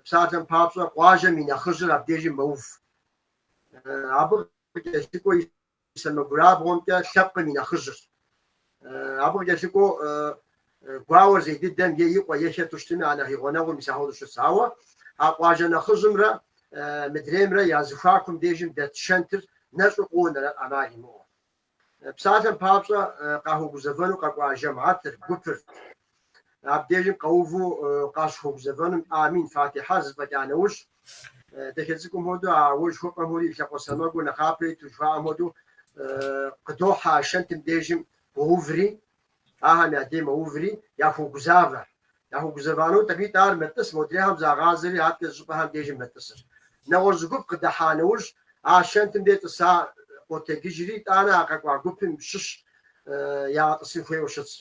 [SPEAKER 1] псалъэм папщӏэ къуажэм и нэхъыжьыр абдежи мэув. Абы къыкӏэлъыкӏуэ Сэмэгурабгъуэмкӏэ лъэпкъым и нэхъыжьырщ. Абы къыкӏэлъыкӏуэу гуауэр зей дыдэм е и къуэ, е хэту щытми, а нэхъ и гъунэгъу мис ахуэдэу щыс. Ауэ а къуажэ нэхъыжьымрэ мыдреймрэ я зыхуакум дежым дэт шэнтыр нэщӏу къонэр ӏэмал имыӏэу. Псалъэм папщӏэ, къахуэгузэвэну къэкӏуа жэмыхьэтыр, гупыр, Абдежым къэуву къащыхуэгузэвэнум амин, фатихьэр зэфӏэкӏа нэужь, дахэ цӏыкӏум хуэдэу а уэ жыхуэпӏэм хуэдэу и лъакъуэ сэмэгур нэхъапэ иту жыхуаӏэм хуэдэу къыдохьэ а шэнтым дежым къоуври, ахэм я дей мэуври, яхуогузавэ. Яхуэгузэвэну тӏэкӏуитӏ ар мэтӏыс модрейхэм загъазэри адкӏэ зыщӏыпӏэхэм дежым мэтӏысыр. Нэгъуэщӏ зы гуп къыдэхьа нэужь, а шэнтым де тӏыса къотэгыжри, итӏанэ а къэкӏуа гупым щыщ ягъэтӏысын хуейуэ щытщ.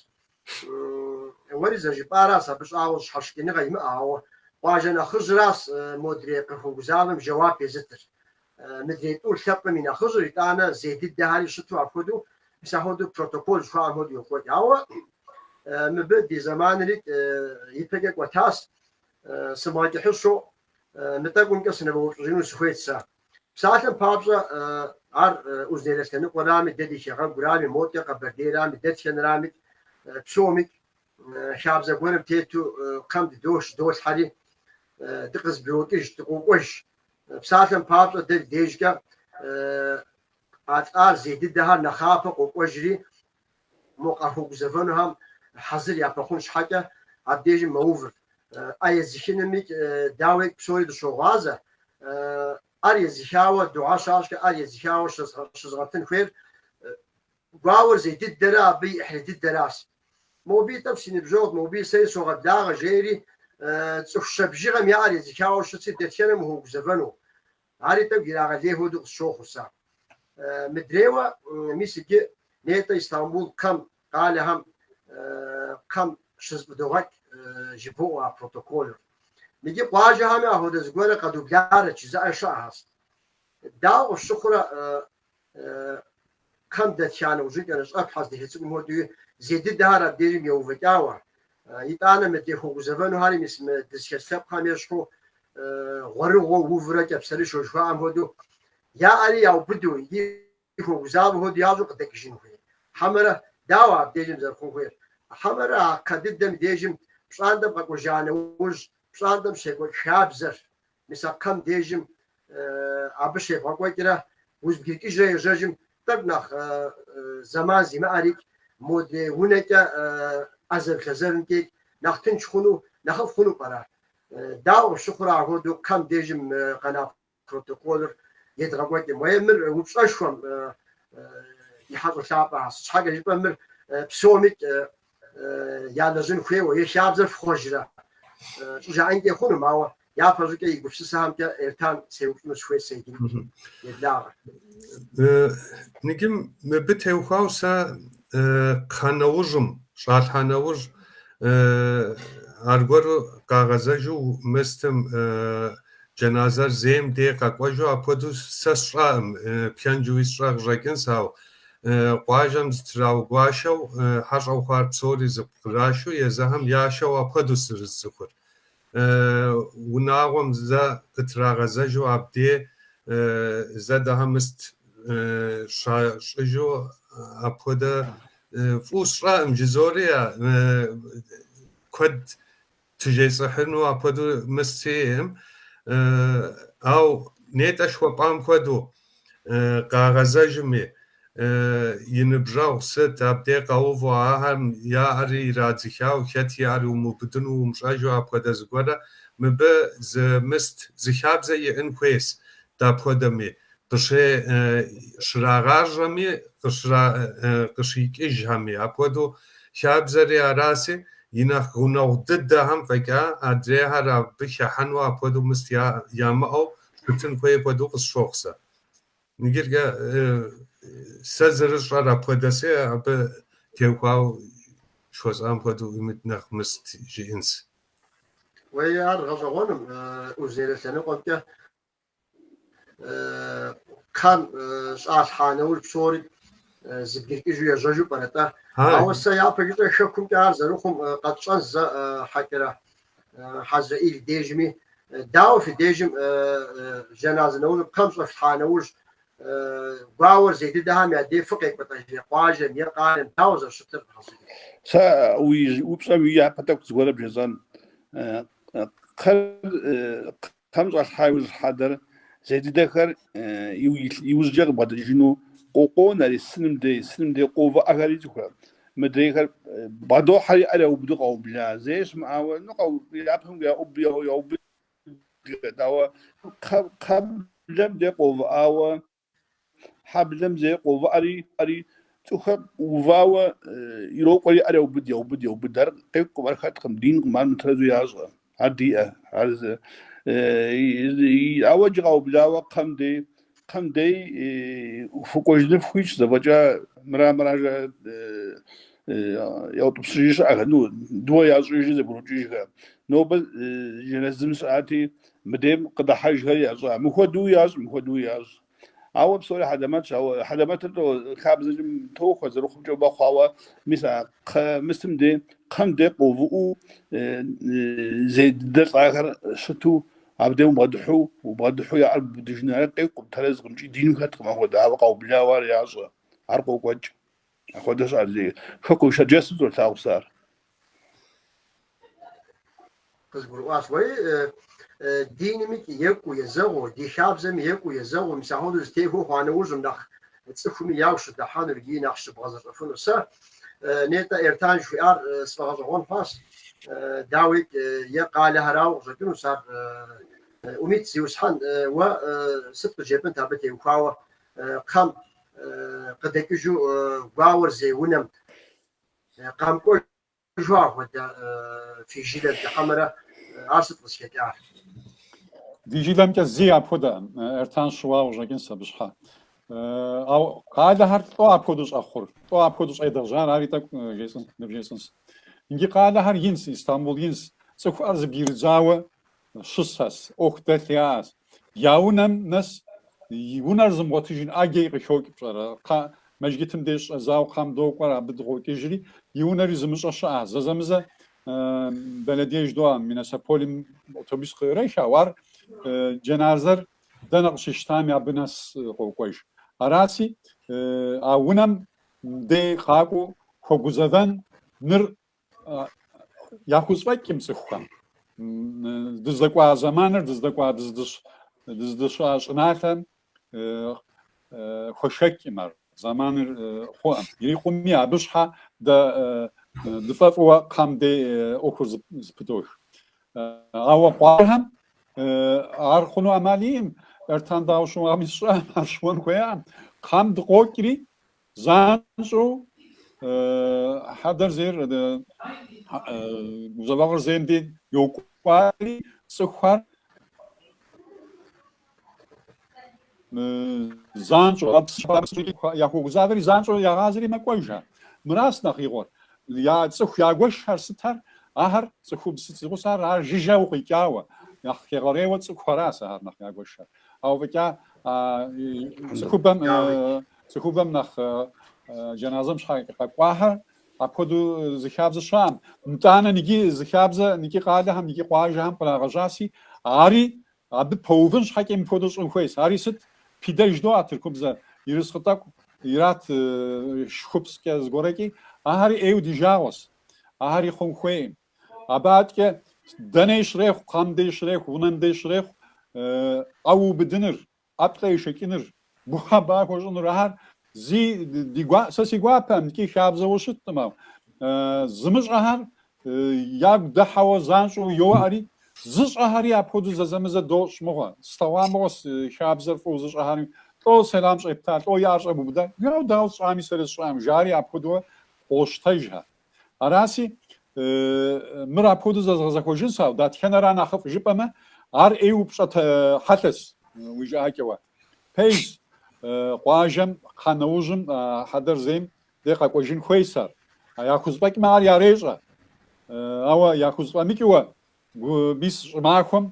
[SPEAKER 1] Уэри зэжыпӏаращ, абы щӏауэ щхьэщыкӏыныгъэ имыӏэ, ауэ къуажэ нэхъыжьыращ модрей къыхуэгузавэм жэуап езытыр. Мыдрей тӏур лъэпкъым и нэхъыжьыр, итӏанэ зей дыдэхэри щыту апхуэдэу, мис апхуэдэу протокол жыхуаӏэм хуэдэу йокӏуэкӏ. Ауэ мыбы ди зэманри ипэкӏэ кӏуэтащ, сымыгъэкӏыхьыщу, мы тӏэкӏумкӏэ сынывэупщӏыжыну сыхуейт сэ. Псалъэм папщӏэ, ар Узуняйлэ лъэныкъуэрами, дэ ди хэгъэгурами, модэ Къэбэрдейрами, дэтхэнэрами, псоми, хабзэ гуэрым тету кхъэм дыдощ, долъхьэри, дыкъызэбгрокӏыж, дыкъокӏуэж. Псалъэм папщӏэ, дэ ди дежкӏэ а лӏар зей дыдэхэр нэхъапэу къокӏуэжри, Мо къахуэгузэвэнухэм хьэзыр япэхъун щхьэкӏэ, абдежым мэувыр. ӏэ езыхынымикӏ, дауи, псори дыщогъуазэ. ӏэр езыхауэ, дугьэ щащӏкӏэ, ӏэр езыхауэ щызгъэтын хуейр гуауэр зей дыдэрэ абы и ӏыхьлы дыдэращ. Мобыи тӏэкӏу си ныбжьэгъут, мобыи сэри согъэблагъэ, жери, цӏыху щэ бжыгъэм я ӏэр езыхауэ щытщи, дэтхэнэм ухуэгузэвэну? Ари тӏэкӏу ирагъэлей хуэдэу къысщохъур сэ. Мыдрейуэ, мис иджы нетӏэ Истамбул кхъэм, къалэхэм, кхъэм щызэфӏыдогъэкӏ жыбоӏэ уэ а протоколыр. Иджы къуажэхэми апхуэдэ зыгуэрэ къэдубларэт, жызыӏэр щыӏэхэст. Дауэ къыфщыхъурэ кхъэм дэтхьа нэужькӏэ нэщӏэплъхьэ зы духьэ цӏыкӏум хуэдэуи зей дыдэхэр абдежым еувэкӏауэ. Итӏанэ мыдрей хуэгузэвэнухэри мис мы дызыхэс лъэпкъхэм ещхьу гъуэрыгъуэу, увурэ кӏапсэрышэу жыхуаӏэм хуэдэу яӏэри яубыду икӏи хуэгузавэ хуэдэу ящӏу къыдэкӏыжын хуей. Хьэмэрэ дауэ абдежым зэрыхъун хуейр? Хьэмэрэ а кхъэ дыдэм дежым пщӏантӏэм къэкӏуэжа нэужь пщӏантӏэм щекӏуэкӏ хабзэр Мис а кхъэм дежым абы щевгъэкӏуэкӏрэ узэбгрыкӏыжрэ ежьэжым, тӏэкӏу нэхъ зэман зимыӏэрикӏ, модэ унэкӏэ ӏэзэрылъэзэрым текӏ, нэхъ тынш хъуну, нэхъыфӏ хъуну пӏэрэ? Дауэ къыфщыхъурэ ахуэдэу кхъэм дежым къэна протоколыр едгъэкӏуэкӏым? Уей, мыр упщӏэшхуэм ди хьэщӏэ лъапӏэхэ, сыт щхьэкӏэ жыпӏэм, мыр псомикӏ ялэжьын хуейуэ е хабзэр фхъуэжрэ? жаӏэнкӏэ хъунум, ауэ япэ щӏыкӏэ и гупсысэхэмкӏэ Эртан сеупщӏыну сыхуейт сэ иджырикӏ, еблагъэ.
[SPEAKER 2] Ныджым мыбы теухуауэ сэ кхъэ нэужьым, щӏалъхьа нэужь, аргуэру къагъэзэжу мыстым джэназэр зейм дей къэкӏуэжу апхуэдэу сэ сщӏэкъым, пхэнжуи сщӏэ къыщӏэкӏынс, ауэ къуажэм зытраугуашэу хьэщӏэу хъуар псори зэпкърашэу езыхэм яшэу апхуэдэу сырызцӏыхур. Унагъуэм зэ къытрагъэзэжу абдей зэ дэхэ мыст щащӏыжу апхуэдэ фӏу сщӏэкъым жызори куэд Тежесӏыхьыну апхуэдэу мыст сиӏэкъым, ау нетӏэ шхуэпӏам хуэдэу къагъэзэжми, и ныбжьэгъу сыт, абдей къэуву ахэм я ӏэри ирадзыхауэ, хэт и ӏэри умыубыдыну умыщӏэжу апхуэдэ зыгуэрэ, мыбы зы мыст, зы хабзэ иӏын хуейс дапхуэдэми, къыщрагъажьэми, къыщра- къыщикӏыжхэми. Апхуэдэу хабзэри араси, и нэхъ гъунэгъу дыдэхэм фӏэкӏа адрейхэр абы хэхьэну апхуэдэу мыст ямыӏэу щытын хуей хуэдэу къысщохъу сэ. Иджыркӏэ сэ зырысщӏэр апхуэдэси, абы теухуауэ щхуэсӏам хуэдэу имыт нэхъ мыст жиӏэнс. Уей,
[SPEAKER 1] ар гъэщӏэгъуэнум, Узунейлэ лъэныкъуэмкӏэ. кхъэм щӏалъхьа нэужь псори зэбгрыкӏыжу ежьэжу пӏэрэ-тӏэ? Ауэ сэ япэ жыщӏэ хэкумкӏэ ар зэрыхъум къэтщӏэн щхьэкӏэрэ Хьэзрэӏил дежми, дауэ фи дежым жэназэ нэужьыр кхъэм щӏэфлъхьа нэужь гуауэр зей дыдэхэм я дей фыкъекӏуэлӏэж е къуажэм е къалэм дауэ зэрыщытыр? Сэ
[SPEAKER 4] уи упщӏэм и япэ тӏэкӏу зыгуэрэ бжесӏэн. Кхъэр Кхъэм щӏалъхьа иужь хьэдэр зей дыдэхэр иужькӏэ къыбгъэдэкӏыжыну къыкъуонэри, сыным дей, сыным дей къоувыӏэхэри цӏыхурэ. Мыдрейхэр бгъэдохьэри я ӏэр яубыду къаубла, зэи щымыӏауэ, ну, япэм яубыдэ, дауэ кхъэблэм дей къоувыӏауэ Хьэблэм зей къоувыӏэри, цӏыхухэр увауэ ирокӏуэри, ӏэр яубыд, яубыд, яубыд. Ар къекӏукъым, ар хэткъым, динкъым, ар мытэрэзу ящӏэ, ар диӏэ. Ауэ иджы къаублауэ кхъэм дей, кхъэм дей фыкӏуэжыну фыхуитщ, зэфӏэкӏа мыра, мыра жаӏэ, яутӏыпщыжи щыӏэхэр, ну, дыуэ ящӏыжи зэбгрыкӏыжхэр. Нобэ жэназым сыщыӏати, Мыдейм къыдыхьэжхэр ящӏ. Мыхуэдэуи ящӏ, мыхуэдэуи ящӏ. Ауэ псори хьэлэмэтщ, ауэ хьэлэмэтыр тӏо хабзэкӏэ тохуэ, зэрыхъумкӏэ бэ хъуауэ, мис а кхъэ мысым де, кхъэм де къоувыӏуу зей дыдэ лӏахэр щыту, абдей убгъэдыхьу, убгъэдыхьу я ӏэр бубыдыжын, ар къекӏукъым, тэрэзкъым икӏи дину хэткъым, апхуэдэ, ауэ къаублауэ ар ящӏэ, ар къокӏуэкӏ. Апхуэдэщ ар зи хэкум шэджэсу золъагъу сэ
[SPEAKER 1] ар. Къызгурыӏуащ. Уэри динмикӏи екӏуу езэгъыу, ди хабзэми екӏуу езэгъыу, мис ахуэдэу зытехуэу хъуа нэужьым нэхъ цӏыхуми ягу щыдыхьэнур, икӏи нэхъ щыбгъэзэщӏэфынур. Сэ нетӏэ Эртан жыхуиӏар сфӏэгъэщӏэгъуэн хъуащ. Дауи, е къалэхэрауэ къыщӏэкӏынущ ар. Умит, зиусхьэн, уэ сыт къыджепӏынт абы теухуауэ? Кхъэм къыдэкӏыжу гуауэр зей унэм къамкӏуэжу
[SPEAKER 3] апхуэдэ фи жылэм хьэмэрэ ар сыт къызхэкӏар? Ди жылэмкӏэ зэи апхуэдэ... Эртан щыуауэ щӏэкӏынс абы щхьэ. Ауэ къалэхэр лӏо апхуэдэу щӏэхъур, лӏо апхуэдэу щӏедгъэжьар ари тӏэкӏу жесӏын, ныбжесӏынс. Иджы къалэхэр инс, Истамбул инс, цӏыхухэр зэбгрыдзауэ щысэс, ӏуэху дэлъ яӏэс. Я унэм нэс и унэр зымыгъуэтыжын ӏэджэи къыхокӏ пщӏэрэ. Кхъэ, мэжгитым деж щӏэдзауэ кхъэм докӏуэри, абы дыкъокӏыжри, и унэри зымыщӏэ щыӏэ. Зэзэмызэ бэлэдие жыдоӏэ, мунисипалим автобус къыӏрех, ауэ ар джэназэр дэнэ къыщащтами, абы нэс къокӏуэж. Араси, а унэм дей къакӏуэу хуэгузэвэн ныр Яхузфӏэкӏым цӏыхухэм. Дыздэкӏуа зэманыр, дыздэкӏуа дыздыщыӏа щӏыналъэм хуэшэкӏым ар зэманыр хъуӏэм. Ирикъуми абы щхьэ дэ дыфӏэфӏыуэ кхъэм дей ӏуэхур зэпыдоуж. Ауэ къуажэхэм ар хъуну ӏэмал иӏым, Эртан дауэ щыуами сщӏэм, ар щыуэн хуеям. Кхъэм дыкъокӏри, Занщӏэу хьэдэр зейр, гузэвэгъуэр зейм дей йокӏуалӏэри цӏыхухэр занщӏэу яхуэгузавэри занщӏэу ягъазэри мэкӏуэжа. Мыращ нэхъ игъуэр. Я цӏыху ягуэшхэр сытар, ахэр цӏыхубз зи гъусэхэр, а жыжьэ укъикӏауэ. Нэхъ хегъэрейуэ цӏыхухэращ ахэр нэхъ ягуэшхэр. Ауэ фӏэкӏа цӏыхубэм Цӏыхубэм нэхъ джэназэм щхьэ къэкӏуахэр апхуэдэу зы хабзэ щыӏэм. Итӏанэ иджы зы хабзэ икӏи къалэхэм, икӏи къуажэхэм кърагъэжьаси, ари абы пэувын щхьэкӏэ мыпхуэдэу щӏын хуейс. Ари сыт? Пидэ жыдоӏэ тыркубзэ, ерыскъы тӏэкӏу ират шхупскӏэ зыгорэкӏи, ахэри ӏейу ди жагъуэс. Ахэри хъун хуейм. Абы аткӏэ дэней щрехъу, кхъэм дей щрехъу, унэм дей щрехъу ӏэ убыдыныр, ӏэплӏэ ешэкӏыныр, ба хуэщӏыныр, ахэр зи ди гуа, сэ си гуапэмкӏи хабзэуэ щыттым, ау зымыщӏэхэр ягу дыхьэуэ занщӏэу йоӏэри, зыщӏэхэри апхуэдэу зэзэмызэ дощӏ мыгъуэ, слъэгъуа мыгъуэс, хабзэр фӏыуэ зыщӏэхэри, лӏо сэлам щӏепта, лӏо и ӏэр щӏэбубыда, яу дауэ сщӏами, сэри сщӏам, жари апхуэдэуэ къощтэжхэ. Араси, мыр апхуэдэу зэзгъэзэхуэжынс, ау, дэтхэнэра нэхъыфӏ жыпӏэмэ, ар ӏей упщӏэт хьэлъэс, уи жыӏакӏэуэ. Пэжс, къуажэм, кхъэ нэужьым, хьэдэр зейм дей къэкӏуэжын хуейс ар. Яхузфӏэкӏмэ, ар ярещӏэ. Ауэ яхузфӏэмыкӏыуэ, Гу мис щӏымахуэм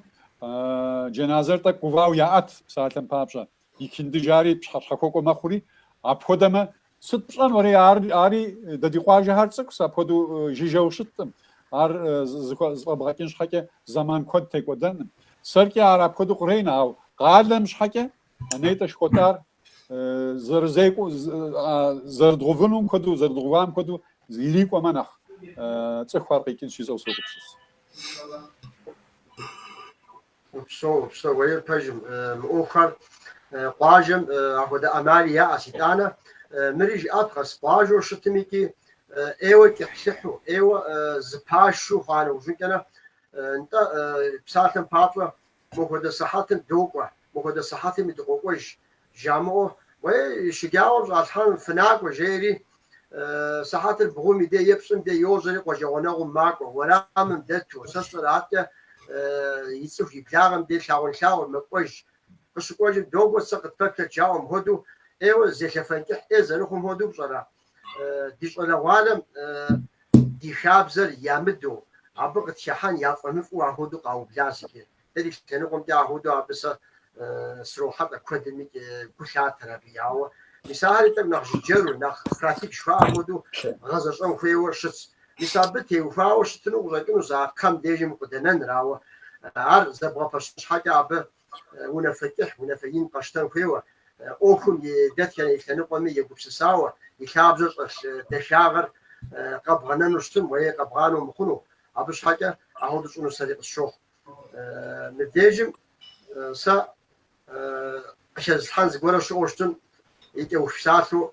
[SPEAKER 3] джэназэр тӏэкӏу гувауэ яӏэт псалъэм папщӏэ, икинды жари пщыхьэщхьэхуэкӏуэ мэхъури, апхуэдэмэ, сыт пщӏэн уэри, ар, ари, дэ ди къуажэхэр цӏыкӏус, апхуэдэу жыжьэу щыткъым, ар зэфӏэбгъэкӏын щхьэкӏэ зэман куэд текӏуэдэным. Сэркӏи ар апхуэдэу къренэ, ауэ къалэм щхьэкӏэ, нетӏэ жыхуэтӏар зэрызекӏуэ зэрыдгъувынум хуэдэу зэрыдгъувам хуэдэу ирикӏуэмэ нэхъ цӏыхухэр къикӏын щищӏэу согупсыс. Упсо, упсо,
[SPEAKER 1] уеир пэжым, мы ӏуэхухэр къуажэм апхуэдэ ӏэмали яӏэс, итӏанэ мыри жыӏэпхъэс, къуажэу щытым икӏи ӏейуэ кӏыхьлыхьу, ӏейуэ зэпашу хъуа нэужьынкӏэ нэ, нтӏэ псалъэм папщӏэ Мыхуэдэ сыхьэтым докӏуэ, мыхуэдэ сыхьэтми дыкъокӏуэж, жамыӏэу, уей, шэджагъуэм щӏалъхьэным фынакӏуэ, жери, сыхьэтыр бгъум и де е пщӏым де йожьэри къуажэгъуэнэгъум макӏуэ, уэрамым дэту, сэ сщӏэра атӏэ и цӏыху и благъэм де лъагъунлъагъур мэкӏуэж. Къыщыкӏуэжым, докӏуэ, зэ къытпэплъэт, жаӏэу мыхуэдэу ӏейуэ зелъэфэн кӏыхь ӏей зэрыхъум хуэдэу пщӏэрэ, ди щӏалэгъуалэм ди хабзэр ямыдэу, абы къытхыхьэн яфӏэмыфӏу ахуэдэу къаублас икӏи. Дэ ди лъэныкъуэмкӏэ ахуэдэу абы сэ срохьэлӏэ, куэдым икӏи гу лъатэр абы. Ауэ мис ахэри тӏэкӏу нэхъ жыджэру, нэхъ пратик жыхуаӏэм хуэдэу гъэзэщӏэн хуейуэ щытщ. Мис абы теухуауэ щытыну къыщӏэкӏынущ а кхъэм дежым къыдэнэныр, ауэ ар зэбгъэпэщын щхьэкӏэ абы унафэ кӏыхь, унафэ ин къэщтэн хуейуэ, ӏуэхум и дэтхэнэ и лъэныкъуэми егупсысауэ, и лъабжьэр щӏэлъ дахагъэр къэбгъэнэну щытым е къэбгъанэу мыхъуну. Абы щхьэкӏэ ахуэдэу щӏыну сэри къысщохъу. Мыбдежым сэ къыхэзылъхьэн зыгуэрэ щыӏэу щытым, и кӏэух псалъэу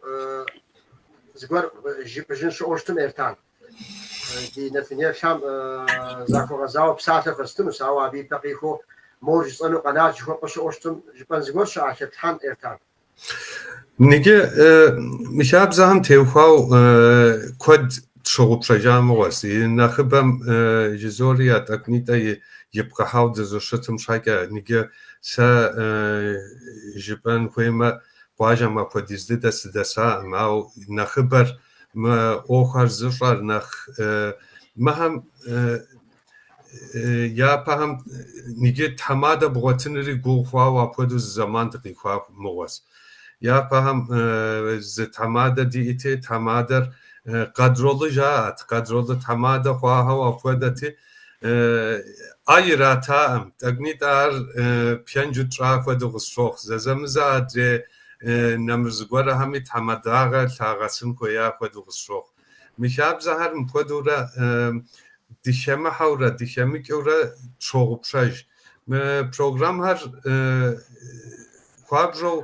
[SPEAKER 1] зыгуэр жыпӏыжын щыӏэу щытым, Эртан. Ди Нэтынел Тхьэм захуэгъэзауэ псалъэ хэстынущ, ауэ абы ипэ къихуэу мор жысӏэну къэнат жыхуэпӏэ щыӏэу щытмэ, жыпӏэн зыгуэр щыӏа Лъэтхьэн Эртан.
[SPEAKER 2] Иджы мы хабзэхэм теухуау куэд тщыгъупщэжа мыгъуэ, си нэхъыбэм жызоӏэри я тӏэкӏунитӏэ ипхъыхьауэ дызыщытым щхьэкӏэ, иджы сэ жыпӏэн хуеймэ, къуажэм апхуэдиз дыдэ сыдэсаӏым, ауэ нэхъыбэр Мы ӏуэхуэр зыщӏэр нэхъ мыхэм япэхэм иджы тхьэмадэ бгъуэтыныри гугъу хъуауэ апхуэдэу зы зэман дыкъихуа мыгъуэс. Япэхэм зы тхьэмадэ диӏэти, тхьэмадэр къэдролы жаӏэт, къэдролы тхьэмадэ хъуахэу апхуэдэти, ӏэ иратаӏым, тӏэкӏунитӏэ ар пхэнжу тщӏа хуэдэу къысщохъу, зэзэмызэ адрей нэмыр зыгуэрхэми тхьэмадагъэ лъагъэсын хуея хуэдэу къысщохъу. Мы хабзэхэр мыпхуэдэурэ дыхэмыхьэурэ дыхэмыкӏыурэ тщогъупщэж. Мы программхэр хуабжьэу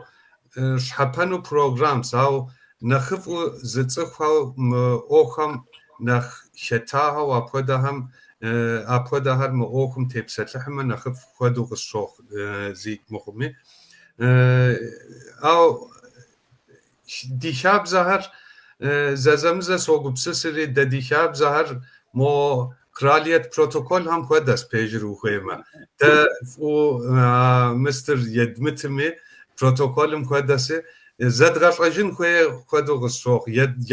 [SPEAKER 2] щхьэпэну программс, ауэ нэхъыфӏу зыцӏыхухэу мы ӏуэхухэм нэхъ хэтахэу апхуэдэхэм апхуэдэхэр мы ӏуэхум тепсэлъыхьмэ нэхъыфӏ хуэдэу къысщохъу зикӏ мыхъуми. Ау ди хабзэхэр зэзэмызэ согупсысри, дэ ди хабзэхэр мо кралиет протоколхэм хуэдэс пежыр ухуеймэ. Дэ фӏу мыстыр едмытми протоколым хуэдэси зэдгъэщӏэжын хуей хуэдэу къысщохъу,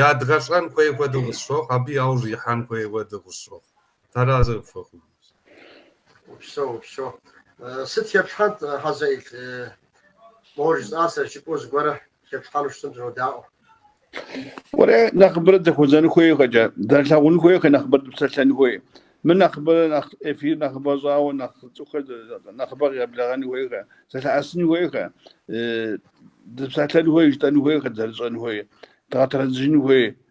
[SPEAKER 2] ядгъэщӏэн хуей хуэдэу къысщохъу, абы яужь ихьэн хуей хуэдэу къысщохъу. Тэрэз
[SPEAKER 1] фэхъужу. Упсэу, упсэу. Сыт хэплъхьэнт, Хьэзэил? Моуэ жысӏа
[SPEAKER 4] сэ жыпӏэу зыгуэрэ хэплъхьэну щытмэ сынодаӏуэ. Уэлэ нэхъыбэрэ дызэхуэзэн хуей къэкӏэ, дызэрылъагъун хуейкъэ нэхъыбэрэ дыпсэлъэн хуей. Мы нэхъыбэрэ нэхъ эфир нэхъыбэ щӏауэ нэхъ цӏыхухэр нэхъыбэ къегъэблэгъэн хуейкъэ, зэлъэӏэсын хуейкъэ, дыпсэлъэн хуей, жытӏэн хуейкъэ, дызэрыщӏэн хуей, дгъэтэрэзыжын хуей.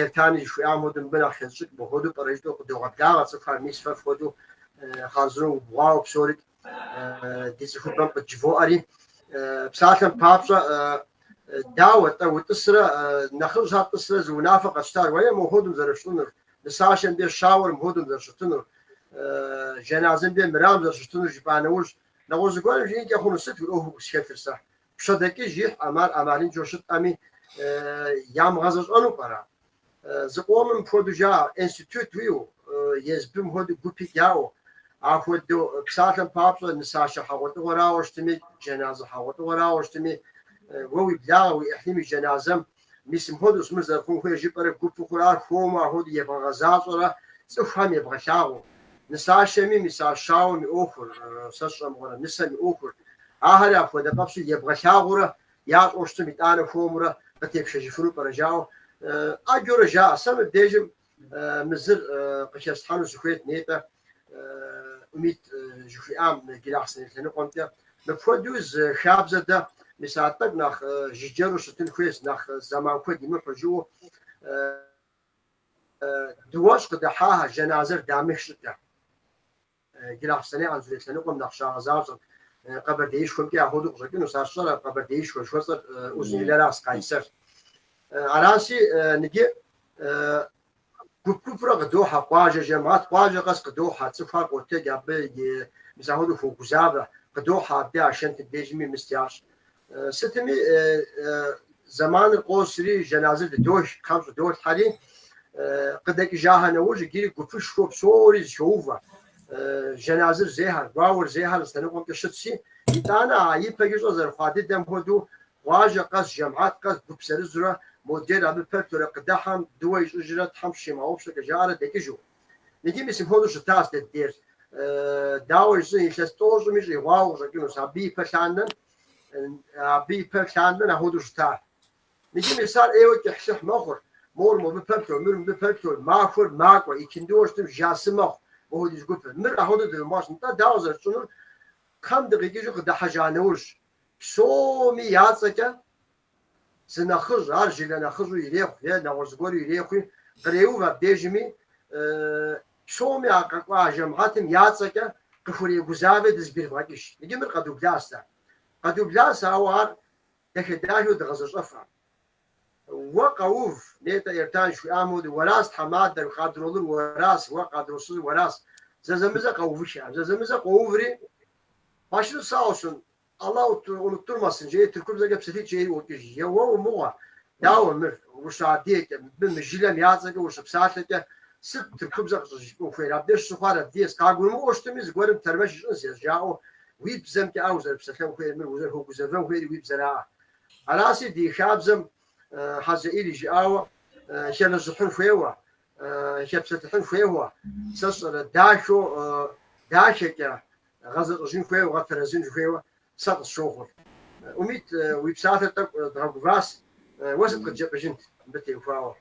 [SPEAKER 1] Эртани жыхуиӏам хуэдэу мыбы нэхъ хещӏыкӏ мыхуэдэу пӏэрэ жытӏэу къыдогъэблагъэ цӏыхухэр, мис фэ фхуэдэу хъарзынэу убгъуауэ псорикӏ ди цӏыхубэм къыджывоӏэри. Псалъэм папщӏэ, дауэ, тӏэ утӏысрэ нэхъыжьхэр тӏысрэ зы унафэ къащтар, уей мыхуэдэум зэрыфщӏынур, нысашэм де щауэр мыхуэдэум зэрыщытынур, джэназэм де мырам зэрыщытынур жыпӏа нэужь, нэгъуэщӏ зыгуэрым жиӏэнкӏэ хъуну сыт уи ӏуэхуу къысхэлъыр сэ? пщэдэкӏыж ихь ӏэмал ӏэмалыншэу щытхэми, ямыгъэзэщӏэну пӏэрэ? Зыкъомым мыпхуэдэу жаӏэ, институт уиӏэу, ЕСБ-м хуэдэу гупикӏ яӏэу, апхуэдэу псалъэм папщӏэ нысашэ хьэгъуэлӏыгъуэрауэ щытми, джэназэ хьэгъуэлӏыгъуэрауэ щытми, уэ уи благъэ, уи ӏыхьлым и джэназэм Мис мыпхуэдэущ мыр зэрыхъун хуейр жыпӏэрэ гупу хъурэ ар хуэму апхуэдэу ебгъэгъэзащӏэрэ цӏыхухэм ебгъэлъагъуэу. Нысащэми, мис а щауэм и ӏуэхур, сэ сщӏэмыгъуэрэ, нысэм и ӏуэхур, ахэри апхуэдэ къабзэу ебгъэлъагъуурэ ящӏэу щытым итӏанэ хуэмурэ къытепшэжыфыну пӏэрэ жаӏэу ӏэджэрэ жаӏэ. Сэ мыбдежым Мы зыр къыхэстхьэну сыхуейт нетӏэ Умид жыхуиӏам Джылахъсэней лъэныкъуэмкӏэ. Мыпхуэдэу зы хабзэ дэ, мис а тӏэкӏу нэхъ жыджэру щытын хуейщ, нэхъ зэман куэд имыхьу, жаӏэу дыуэщӏ къыдыхьахэр, жэназэр дамых щӏыкӏэ. Джылахъсэней, Анзорей лъэныкъуэм нэхъ щагъэзащӏэрт. Къэбэрдеишхуэмкӏи ахуэдэу къыщӏэкӏынущ. Ар сщӏэрэ, Къэбэрдеишхуэ жыхуэсӏэр Узуняйлэращ, Къайсэр. Аращи, ныджы гуп-гупурэ къыдохьэ, къуажэ жэмыхьэт, къуажэ къэс къыдохьэ, цӏыхур къотэдж абы и, мис ахуэдэу хуогузавэ, къыдохьэ абы я пщӏантӏэ дежми мыстэу ящӏ. Сытми, зэманыр къосри, жэназыр дыдох, кхъэм щӏыдолъхьэри, къыдэкӏыжахэ нэужь иджыри гупышхуэу псори зэхоувэ. Жэназыр зейхэр, гуауэр зейхэр зы лъэныкъуэмкӏэ щытщи, итӏанэ а ипэкӏэ щӏэ зэрыхъуа дыдэм хуэдэу, къуажэ къэс, жэмыхьэт къэс, гуп зырызурэ, модрейр абы пэплъэрэ къыдыхьэм дыуэ ищӏыжрэ Тхьэм щимыгъэгъупщэкӏэ жаӏэрэ дэкӏыжу. Ныджы мис мыпхуэдэу щытащ дэ ди деж. Дауэ жысӏэн, илъэс тӏощӏми щӏигъуауэ къыщӏэкӏынущ, абы ипэ лъандэрэ. Абы ипэ лъандэрэ ахуэдэу щыта. Ныджы мис ар ӏейуэ кӏыхьлыхь мэхъур. Мор мобы пэплъэу, мыр мыбы пэплъэу, махуэр макӏуэ, икиндыуэ щытым жасы мэхъу мыхуэдиз гупыр. Мыр ахуэдэу дывмыгъэщӏ. Нтӏэ, дауэ зэрытщӏынур? Кхъэм дыкъикӏыжу къыдэхьэжа нэужь, псоми я цӏэкӏэ Зы нэхъыжь, ар жылэ нэхъыжьу ирехъу е нэгъуэщӏ зыгуэру ирехъуи, къреув абдежми, псоми а къэкӏуа жэмыхьэтым я цӏэкӏэ къыхурегузавэ дызэбгрывгъэкӏыж. Иджы мыр къэдублащ, къэдублащ, ауэ ар дахэ-дахэу дгъэзэщӏэфаӏым. Уэ къэув, нетӏэ, Эртан жыхуиӏам хуэдэу, уэращ тхьэмадэр, къадролыр уэращ, уэ къадросызыр уэращ. Зэзэмызэ къэувыххэӏым. Зэзэмызэ къоуври, başınız sağ olsun, Allah unutturmasın жери тыркубзэкӏэ псалъитӏ жери ӏуокӏыж. Е уэ мыгъуэ, дауэ мыр, ущыадыгэкӏэ, мыбы мы жылэм я цӏэкӏэ ущыпсалъэкӏэ, сыт тыркубзэ къыщӏыжыпӏэн хуейр? Абдеж щыхъуар адыгэс, къагурымыӏуэу щытми, зыгуэрым тэрмэш ищӏынщ жаӏэу, уи бзэмкӏэ а узэрыпсэлъэн хуейр, мыр узэрыхуэгузэвэн хуейри уи бзэраӏэ. Араси ди хабзэм Хьэзэӏил и жыӏауэ хэныжыхьын хуейуэ, хэпсэлъыхьын хуейуэ, сэ сщӏэрэ, дахэу, дахэкӏэ гъэзэщӏэжын хуейуэ, гъэтэрэзыжын хуейуэ сэ къысщохъур. Умит, уи псалъэр тӏэкӏу дгъэгуващ, уэ сыт къыдджэпӏыжынт мыбы теухуауэ?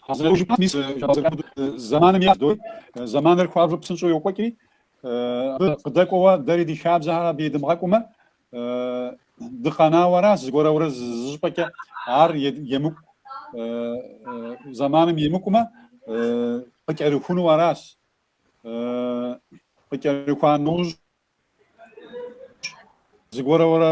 [SPEAKER 3] Къэзэужыпэм мис зэманым ещӏ дой, зэманыр хуабжьу псынщӏэу йокӏуэкӏри, абы къыдэкӏуэуэ дэри ди хабзэхэр абы едымыгъэкӏумэ, Дыкъэнауэ аращ зыгуэрурэ зы щӏыпӏэкӏэ ар емыкӏу зэманым емыкӏумэ къыкӏэрыхуну аращ. Къыкӏэрыхуа нэужь зыгуэрурэ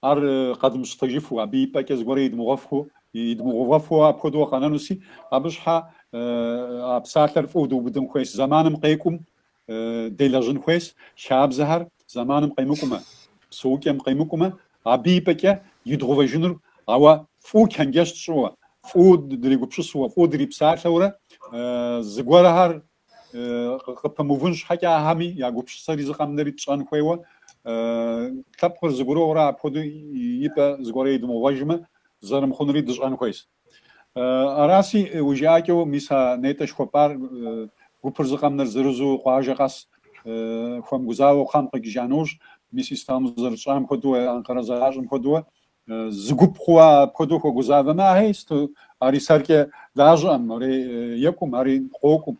[SPEAKER 3] Ар къэдмыщтыжыфу, абы и пӏэкӏэ зыгуэрэ идмыгъуэфу, идмыгъувэфу апхуэдэу къэнэнуси, абы щхьэ а псалъэр фӏыуэ дыубыдын хуейщ, зэманым къекӏум делэжьын хуейщ, хабзэхэр зэманым къемыкӏумэ, псэукӏэм къемыкӏумэ, абы и пӏэкӏэ идгъувэжынур, ауэ фӏыуэ чэнджэщ тщӏыуэ, фӏыуэ дригупсысуэ, фӏыуэ дрипсалъэурэ, зыгуэрхэр къыпэмыувын щхьэкӏэ ахэми я гупсысэри зыкъэмнэри тщӏэн хуейуэ лъэпкъыр зыгуэрурэ апхуэдэу и пӏэ зыгуэрэ идмыгъувэжмэ зэрымыхъунури дыщӏэн хуейс. Араси уи жыӏэкӏэу мис а нетӏэ жыхуэпӏар гупыр зыкъэмнэр зырызу къуажэ къэс хуэмыгузавэу кхъэм къикӏыжа нэужь мис Истамбыл зэрытщӏам хуэдэуэ, Анкъэрэ зэращӏэм хуэдэуэ Зы гуп хъууэ апхуэдэу хуэгузавэмэ, ахьей сыт ари сэркӏэ дахэм, ари екӏум, ари къокӏум.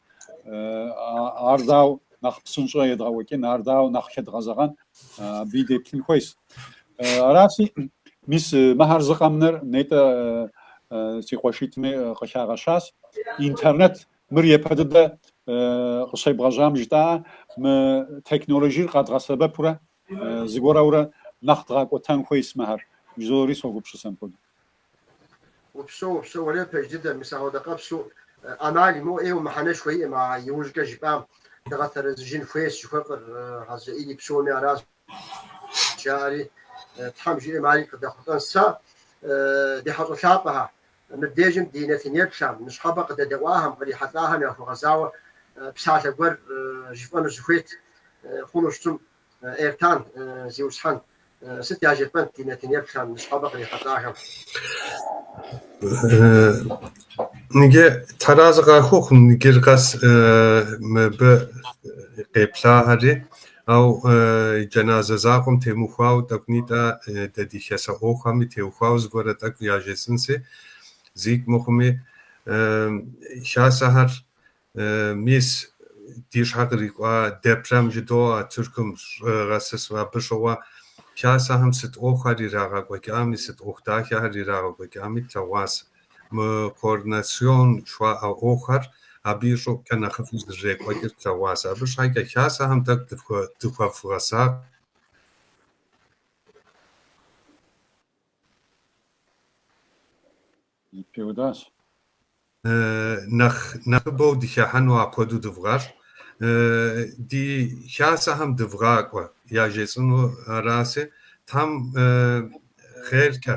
[SPEAKER 3] Ар дау нэхъ псынщӏэ едгъэкӏуэкӏын, ар дау нэхъ хэдгъэзэгъэн, абыи деплъын хуейс. Аращи, мис мыхьэр зыкъэмнэр нетӏэ си къуэшитӏми къыхагъэщащ. Интернет мыр япэ дыдэ къыщебгъэжьам жытӏа, мы текноложир къэдгъэсэбэпурэ Зыгуэрурэ нэхъ дгъакӏуэтэн хуейс мыхэр жызори согупщысэ мыпхуэдэу.
[SPEAKER 1] Упсэу, упсэу, уэлэхьи, пэж дыдэ, мис ахуэдэ къэпсу ӏэмал имыӏэу ӏейуэ мыхьэнэшхуэ иӏэм а иужькӏэ жыпӏам дыгъэтэрэзыжын хуейщ жыхуэфӏэр Хьэзрэӏили псоми аращ жаӏэри, Тхьэм жиӏэм ари къыдэхъулӏэн сэ, ди хьэщӏэ лъапӏэхэ, Мыбдежым ди нэтынеплъхэм, ныщхьэбэ къыдэдэӏуахэм, кърихьэлӏахэм яхуэгъэзауэ псалъэ гуэр жыфӏэну сыхуейт, хъуну щытым, Эртан, Зиусхьэн, сыт яжепӏэнт ди нэтынеплъхэм, ныщхьэбэ
[SPEAKER 2] кърихьэлӏахэм? Ныджы Тхьэр арэзы къахухъу, ныджыр къэс мыбы къеплъахэри, Ау джэназэ закъуэм темыухуауэ тӏэкӏунитӏэ дэ ди хасэ ӏуэхухэми теухуауэ зыгуэрэ тӏэкӏу яжесӏэнси, зикӏ мыхъуми, хасэхэр, мис, ди щхьэ кърикӏуа депрем жыдоӏэ, Тыркум щӏыгъэсысу. Абы щыгъуэ хасэхэм сыт ӏуэхухэр ирагъэкӏуэкӏами, сыт ӏуэху дахэхэр ирагъэкӏуэкӏами тлъэгъуас. Мы координацион жыхуаӏэ ӏуэхухэр абы и щӏыгъукӏэ нэхъыфӏу зэрырекӏуэкӏыр тлъэгъуас. Абы щхьэкӏэ хасэхэм тӏэкӏу дыхуэвгъэсакъ. Пеудащ. Нэхъ нэхъыбэу дыхыхьэну апхуэдэу дывгъэщӏ. Ди хасэхэм дывгъакӏуэ, яжесӏэну араси, Тхьэм хъеркӏэ.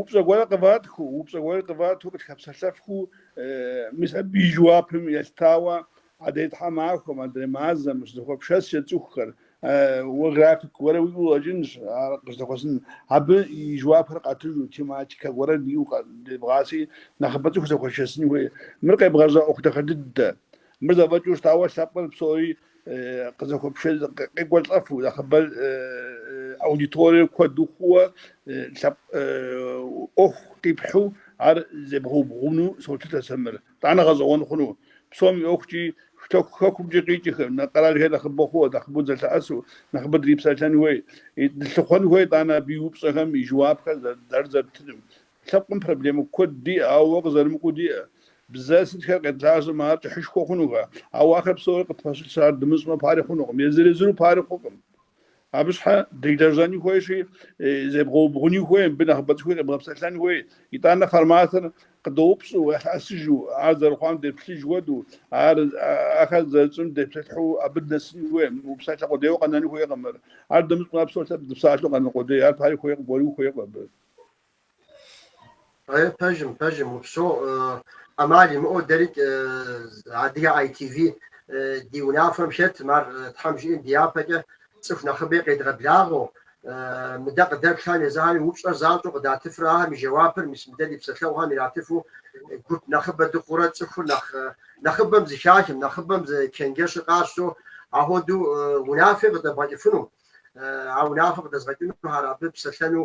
[SPEAKER 4] Упщӏэ гуэрэ къыватхыу, упщӏэ гуэрэ къывату къытхэпсэлъэфхыу, мис абы и жэуапым елъытауэ адрей тхьэмахуэм, адрей мазэм щызэхуэпшэскӏэ цӏыхухэр, уэ график гуэрэ уиӏэу къыщӏэкӏынщ, ар къыщызэхуэсын. Абы и жэуапхэр къатыжу, тематикэ гуэрэ диӏэу къыдебгъаси, нэхъыбэ цӏыху зэхуэшэсын хуей. Мыр къебгъэжьа ӏуэху дахэ дыдэ. Мыр зэфӏэкӏыу щытауэ, лъэпкъыр псори къызэхуэпшэн къекӏуэлӏэфу нэхъыбэр аудиториер куэду хъууэ лъэпкъ ӏуэху къипхьу ар зебгъэубгъуну солъытэ сэ мыр. Тӏанэ гъэщӏэгъуэн хъуну. Псом и ӏуэхукӏи, штэху хэкумкӏи къикӏыхэр, къэралхэр нэхъыбэ хъууэ, нэхъыбэу зэлъэӏэсу, нэхъыбэ дрипсэлъэн хуей, дылъыхъуэн хуей, тӏанэ абы и упщӏэхэм и жэуапхэр зэрыддэрытынум, Лъэпкъым проблемэ куэд диӏэ, ауэ уэ къызэрымыкӏуэу диӏэ. Бзэ сытхэр къедгъажьэмэ, ар кӏыхьышхуэ хъунукъэ? Ауэ ахэр псори къытпэщылъщ, ар дымыщӏмэ пари хъунукъым, езыр-езыру пари хъукъым. Абы щхьэ делэжьэни хуейщи, зебгъэубгъуни хуей, мыбы нэхъыбэ цӏыхуи къебгъэпсэлъэн хуей. Итӏанэ форматыр къыдоупщӏу, елъэӏэсыжу, ар зэрыхъуам деплъыж хуэдэу, ар ахэр зэрытщӏым депсэлъыхьу абы нэсын хуей. Мы псалъэ къудейуэ къэнэну хуейкъым мыр. Ар дымыщӏмэ, ар псор лъэпкъ дыпсалъэу къэнэн къудей, ар пари хуейкъым, гуэри ухуейкъым абы.
[SPEAKER 1] Э, пэжым, пэжым, упсо, ӏэмал имыӏэу дэрикӏ адыгэ ITV ди унафэм хэтым ар тхьэм жиӏэм ди япэкӏэ цӏыху нэхъыбэи къедгъэблагъэу, мыдэ къыдэплъам езыхэми упщӏэр занщӏэу къыдатыфрэ ахэм и жэуапыр, мис мыдэ ди псэлъэгъухэм иратыфу гуп нэхъыбэ дыхъурэ цӏыхур нэхъ нэхъыбэм зыхахым, нэхъыбэм зи чэнджэщыр къащтэу ахуэдэу унафи къыдэбгъэкӏыфыну, а унафэ къыдэзгъэкӏынухэр абы псэлъэну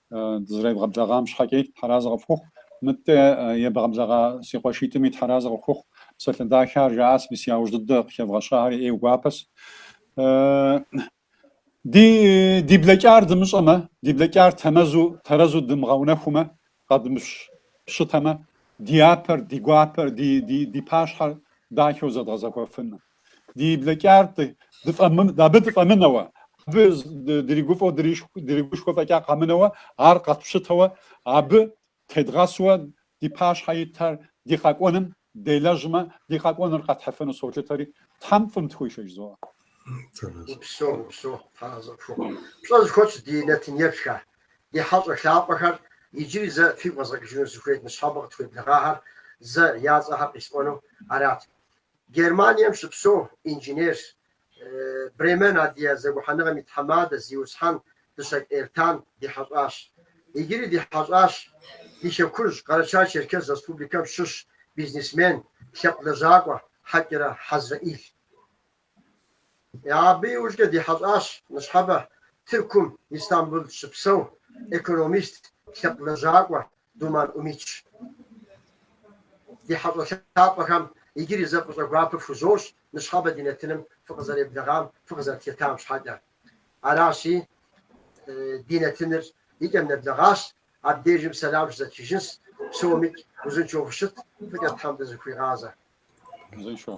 [SPEAKER 3] Дызэребгъэблэгъам щхьэкӏи тхьэразэ къыпхухъу, мыдэ ебгъэблэгъа си къуэшитӏми тхьэразэ къыпхухъу. Псалъэ дахэхэр жаӏащ, мис яужь дыдэ къыхэвгъэщахэри ӏейуэ гуапэщ. Ди блэкӏар дымыщӏэмэ, ди блэкӏар тэмэзу, тэрэзу дымыгъэунэхумэ, къэдмыпщытэмэ, ди япэр, ди гуапэр, ди пащхьэр дахэу зэдгъэзэхуэфынкъым. ди блэкӏар дыфӏэмы, абы дыфӏэмынэуэ, абы дыригуфӏэу дыригушхуэ фӏэкӏа къэмынэуэ, ар къэтпщытэуэ, абы тедгъэсуэ ди пащхьэ итыр ди къэкӏуэным делэжьмэ, ди къэкӏуэныр къэтхьыфыну солъытэри, Тхьэм фӏым дыхуишэ жызоӏэ. Упсэу, упсэу,
[SPEAKER 1] тхьэразэ пхухъу. Пщӏэ зыхуэтщӏ ди нэтынеплъхэ, ди хьэщӏэ лъапӏэхэр, иджыри зэ фигу къэзгъэкӏыжыну сыхуейт ныщхьэбэ къытхуеблэгъахэр зэ я цӏэхэр къисӏуэну арат. Германием щыпсэу инженер, Бремен Адыгэ зэгухьэныгъэм и тхьэмадэ, зиусхьэн Дыщэкӏ Эртан ди хьэщӏащ. Иджыри ди хьэщӏащ ди Хэкужь, Къэрэча-Черкес Республикэм щыщ бизнесмен, лъэпкъ лэжьакӏуэ Хьэкӏэрэ Хьэзрэӏил. Абы иужькӏэ ди хьэщӏащ ныщхьэбэ Тыркум Истамбул щыпсэу экономист, лъэпкъ лэжьакӏуэ Думан Умит. Ди хьэщӏэ лъапӏэхэм иджыри зэ фӏыщӏэ гуапэ фхузощӏ ныщхьэбэ ди нэтыным фыкъызэреблэгъам, фыкъызэрытхэтам щхьэкӏэ. Аращи, ди нэтыныр и кӏэм нэблэгъащ, абдежым сэлам щызэтхыжынщ, псомикӏ узыншэу фыщыт, фӏыкӏэ Тхьэм дызэхуигъазэ. Узыншэу.